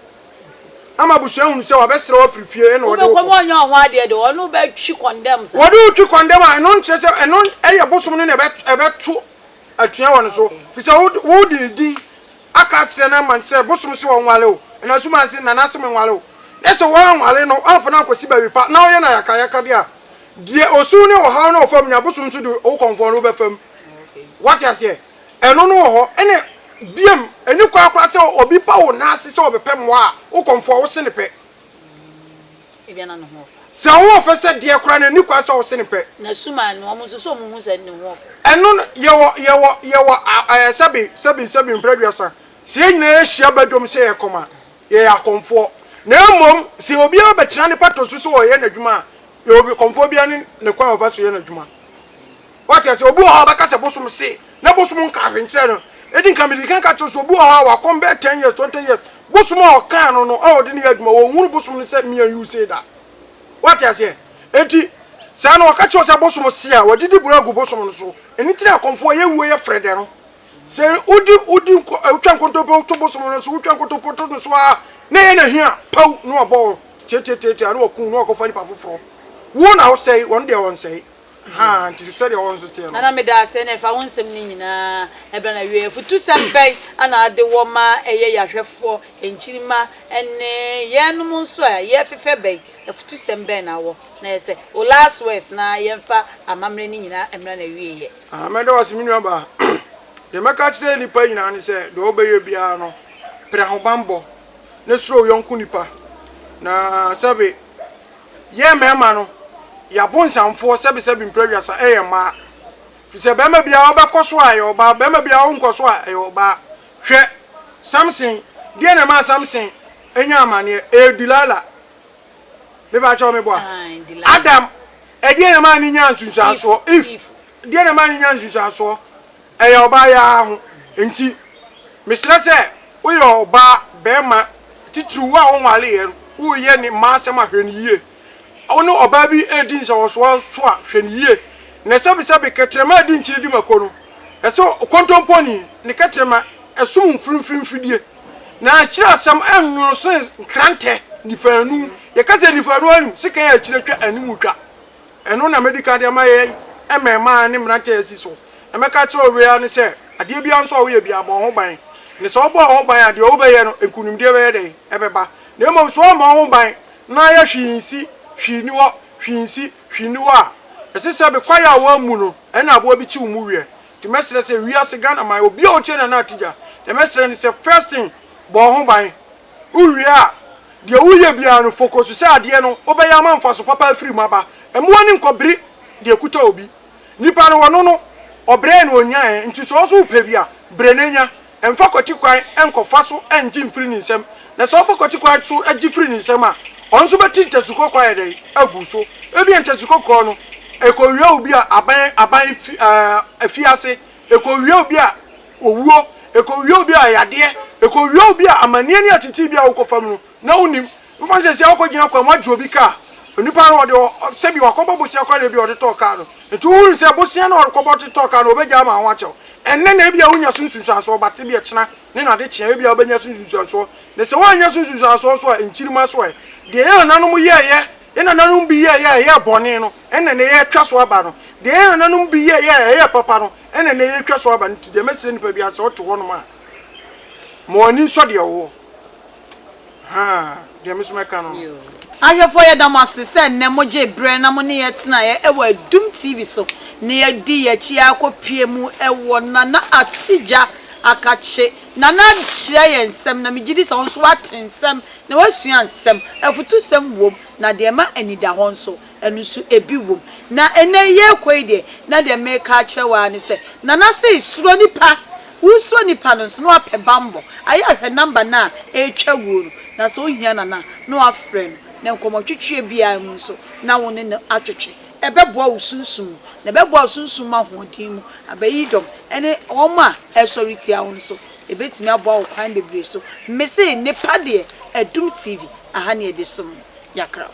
ama abusua hunu sɛ wabɛsrɛ wo afiri fie ɛna ɔde wo kɔ. Wobɛkɔ ma ɔnyɛ wo ho adeɛ de, ɔne wo bɛtwi kɔndɛm saa. Wɔde wo twi kɔndɛm a, ɛno nkyerɛ sɛ ɛno ɛyɛ bosom no na ɛbɛto atua wɔ ne so. Firi sɛ wode ne din aka akyerɛ no ama sɛ bosom se ɔnwale wo. Ɛnam so ma se Nanase menwale wo. Na sɛ woanwale no, woamfa no ankɔsi baabi pa, na woyɛ no ayakayakadeɛ a, deɛ osu ne ɔhaw no ɔfa mu no, abosom nso de wo kɔmfoɔ no wobɛfa mu. Woate aseɛ? Ɛno no wɔ hɔ. Ɛne Bio, enni kwan koraa sɛ obi ba wo nan ase sɛ ɔbɛpɛ mmoa a, wo kɔmfoɔ, wo se no pɛ. Sɛ wo ho ɔfɛ sɛ deɛ koraa no, enni kwan sɛ wo se no pɛ. Ɛno no, yɛwɔ, yɛwɔ, yɛwɔ ɛɛ sɛbe, sɛbe, sɛbe mpra aduasa. Sɛ yɛn nyinaa yɛhyia ba dwom sɛ yɛrekɔm a, yɛyɛ akɔmfoɔ. Na mmom, sɛ obiara bɛtena ne patɔ so sɛ ɔreyɛ n'adwuma a, yɛwɔ kɔmfoɔ biara ne ne kwan a ɔfa so yɛ n'adwuma. Wate ase? Obi wɔ hɔ a ɔbɛka sɛ bosom se, na bosom nka hwee nkyerɛ no. Edi nka mede kan ka kyerɛ wo sɛ obi wɔ hɔ a wakɔm bɛyɛ ten years, twenty years, bosom a ɔkaa no no a ɔde no yɛ adwuma, ɔnhunu bosom no sɛ mean use da. Wate aseɛ? Enti, saa na wɔka kyerɛ wo sɛ bosom se a, wɔde di boro agu bosom no so. Ɛno nti na akɔmfoɔ yɛ wuo yɛ frɛdɛ no. Sɛ wodi, wodi nko, wotwa nkontompo to bosom no so, wotwa nkontompo to no so ara, na ɛyɛ n'ahi a, paw, na wɔabɔ wo, tiatiatiatia, na wɔakum wo, na wɔakɔfa nipa foforɔ. Wo na wosɛe, wɔn deɛ wɔnsɛe. Haa, nti sɛdeɛ wɔn nso teɛ no. Nana meda ase na ɛfa wo nsɛm no nyinaa ɛberɛ na wieɛ afutusɛm bɛn na ade wɔ ma ɛyɛ yahwɛfoɔ nkyirimma ɛne yɛnom nso a yɛfefɛ bɛn afutusɛm bɛn na wɔ na ɛyɛ sɛ wo last words na yɛmfa amammerɛ no nyinaa mmra na wieɛ. Haa meda wo ase me nua baa deɛ mɛka akyerɛ nnipa nyinaa ne sɛ deɛ wobɛyɛ biara no pere ahobanbɔ na suro wo yɔnko nipa na sɛbe Yɛn mmarima no, yɛ abonsamfoɔ sɛbesɛbe mprɛduasa yɛ mmaa. Ɛfiri sɛ barima biara a ɔbɛkɔ so a, ɛyɛ ɔbaa, barima biara a ɔrenkɔ so a, ɛyɛ ɔbaa. Hwɛ! Samson, deɛn na ɛmaa Samson nyaa amaneɛ? Ɛyɛ Delilah. Mepakyɛw meboa? Adam, ɛdeɛn na ɛmaa no nyaa nsunsuansoɔ? Eve, deɛn na ɛmaa no nyaa nsunsuansoɔ? Ɛyɛ ɔbaa yi ara ho nti. Mesrɛ sɛ woyɛ ɔbaa, barima, titiriw wo a wonwareeɛ no, woreyɛ ne mma asɛm a, hwɛ no yie. Wo ne ɔbaa bi redi nsɛwɔsoɔ nso a, hwɛ no yie. Na sɛbesɛbe kɛtrɛma a ɛde nkyene di mako no, ɛsɛ sɛ kontomponi ne kɛtrɛma som mfimfini mfidie. Na akyire asɛm nwono sene nkrantɛ nipaanu. Yɛka sɛ nipaanu anim, sekan a akyire twa anim twa. Ɛno na mɛdi kan de ama yɛn mmarimaa ne mmeranteɛ a asi so. Na mɛka akyerɛ owia no sɛ, Adeɛ biara nso a woyɛ biara, bɔ wo ho ban. Na sɛ wobɔ wo ho ban a, deɛ wobɛyɛ no, nkonimdie bɛyɛ dɛn? Ɛbɛba. Na mmom sɛ woammɔ wo ho ban, na ayɛ hwee nsi, hwee nni hɔ, hwee nsi, hwee nni hɔ a, ɛte sɛ me kwaeɛ a wɔammu no, ɛne aboa bi kyew mu weɛ. Nti mɛsrɛ sɛ, wiase, Ghanaman, obiara a ɔtie Nana Atija, deɛ mɛsrɛ ne sɛ, first thing, Bɔ wo ho ban. Wowie a, deɛ woreyɛ biara no, focus so sɛ adeɛ no wobɛyɛ ama mfaso papa afiri mu aba. Mmu w'ani nkɔ bere deɛ ɛkuta obi. Nipa no, ɔno no, ɔbrɛɛ na ɔnyaeɛ, nti sɛ wo nso wopɛ bi a, brɛ na nya. Mfa kwati kwan nkɔfa so ngye mfiri ne nsam, na sɛ wofa kwati kwan so gye firi ne nsam a, ɔno nso bɛte ntasu kɔkɔɔ ayɛ dɛn? agu so. Ebia ntasu kɔkɔɔ no, ɛkɔwia obi a aban aban fi ɛɛ afiase, ɛkɔwia obi a. owuo, ɛkɔwia obi a yadeɛ, ɛkɔwia obi a amanneɛ ne ateetee bi a wokɔfa mu no na wonnim. Mfa no sɛ seesei wokɔgyina kwan mu agye obi kaa, onipa no ɔde sɛbi wakɔbɔ bosea koraa na ebia ɔde tɔɔ kaa no, nti wohunu sɛ bosea no a ɔrekɔbɔ de tɔɔ kaa no ɔbɛgyae ama ho akyɛ wo ɛnnɛ na ebia wonnya so nsunsuansoɔ but ebia kyena ne n'adekyea ebia wobɛnya so nsunsuansoɔ na sɛ woannya so nsunsuansoɔ nso a nkyirimma so ɛ, deɛ yɛn nananom yɛeɛ, yɛn nananom bi yɛeɛ a ɛyɛɛ bɔne no. Ɛna nnɛ yɛretwa so aba no. Deɛ yɛn nananom bi yɛeɛ a ɛyɛ papa no, ɛna nnɛ yɛretwa so aba no. Nti deɛ mɛsrɛ nipa biara, sɛ wote hɔnom a, ma w'ani nsɔ deɛ wowɔ. Haa, deɛ me nso mɛka no no. Ahwɛfoɔ, yɛda mo ase sɛ nnɛ mogyee berɛ na mo ne yɛn tenaeɛ wɔ Adum TV so na yɛadi yɛn akyi ara kɔpue mu wɔ Nana Atidja Akakye. Nana akyerɛ yɛn nsɛm, na megye di sɛ wo nso woate nsɛm Na woasua nsɛm, afutusɛm wom, na deɛ ɛma anidahɔ nso, ɛno nso ebi wom. Na ɛnnɛ yi yɛrekɔ yi deɛ, na deɛ mereka akyerɛ wo ara ne sɛ, Nana sei, suro nnipa. Woresuro nnipa no nso, na woapɛ bammɔ. Ayɛ a hwɛ nɔmba no a ɛretwa wuo no, na sɛ wohia Nana a, na woafrɛ no, na nkɔmmɔtwetweɛ biara mu nso, na wo ne no atwetwe. Ɛbɛboa wo sunsum mu, na ɛbɛboa wo sunsum mu ahoɔden mu abɛyi dɔm ne wɔn a ɛresɔre tia wo nso. Ebetumi aboa wo kwan bebree so. Mese nnipa deɛ, Adum TV, aha ne yɛde som no. Yɛakra wo.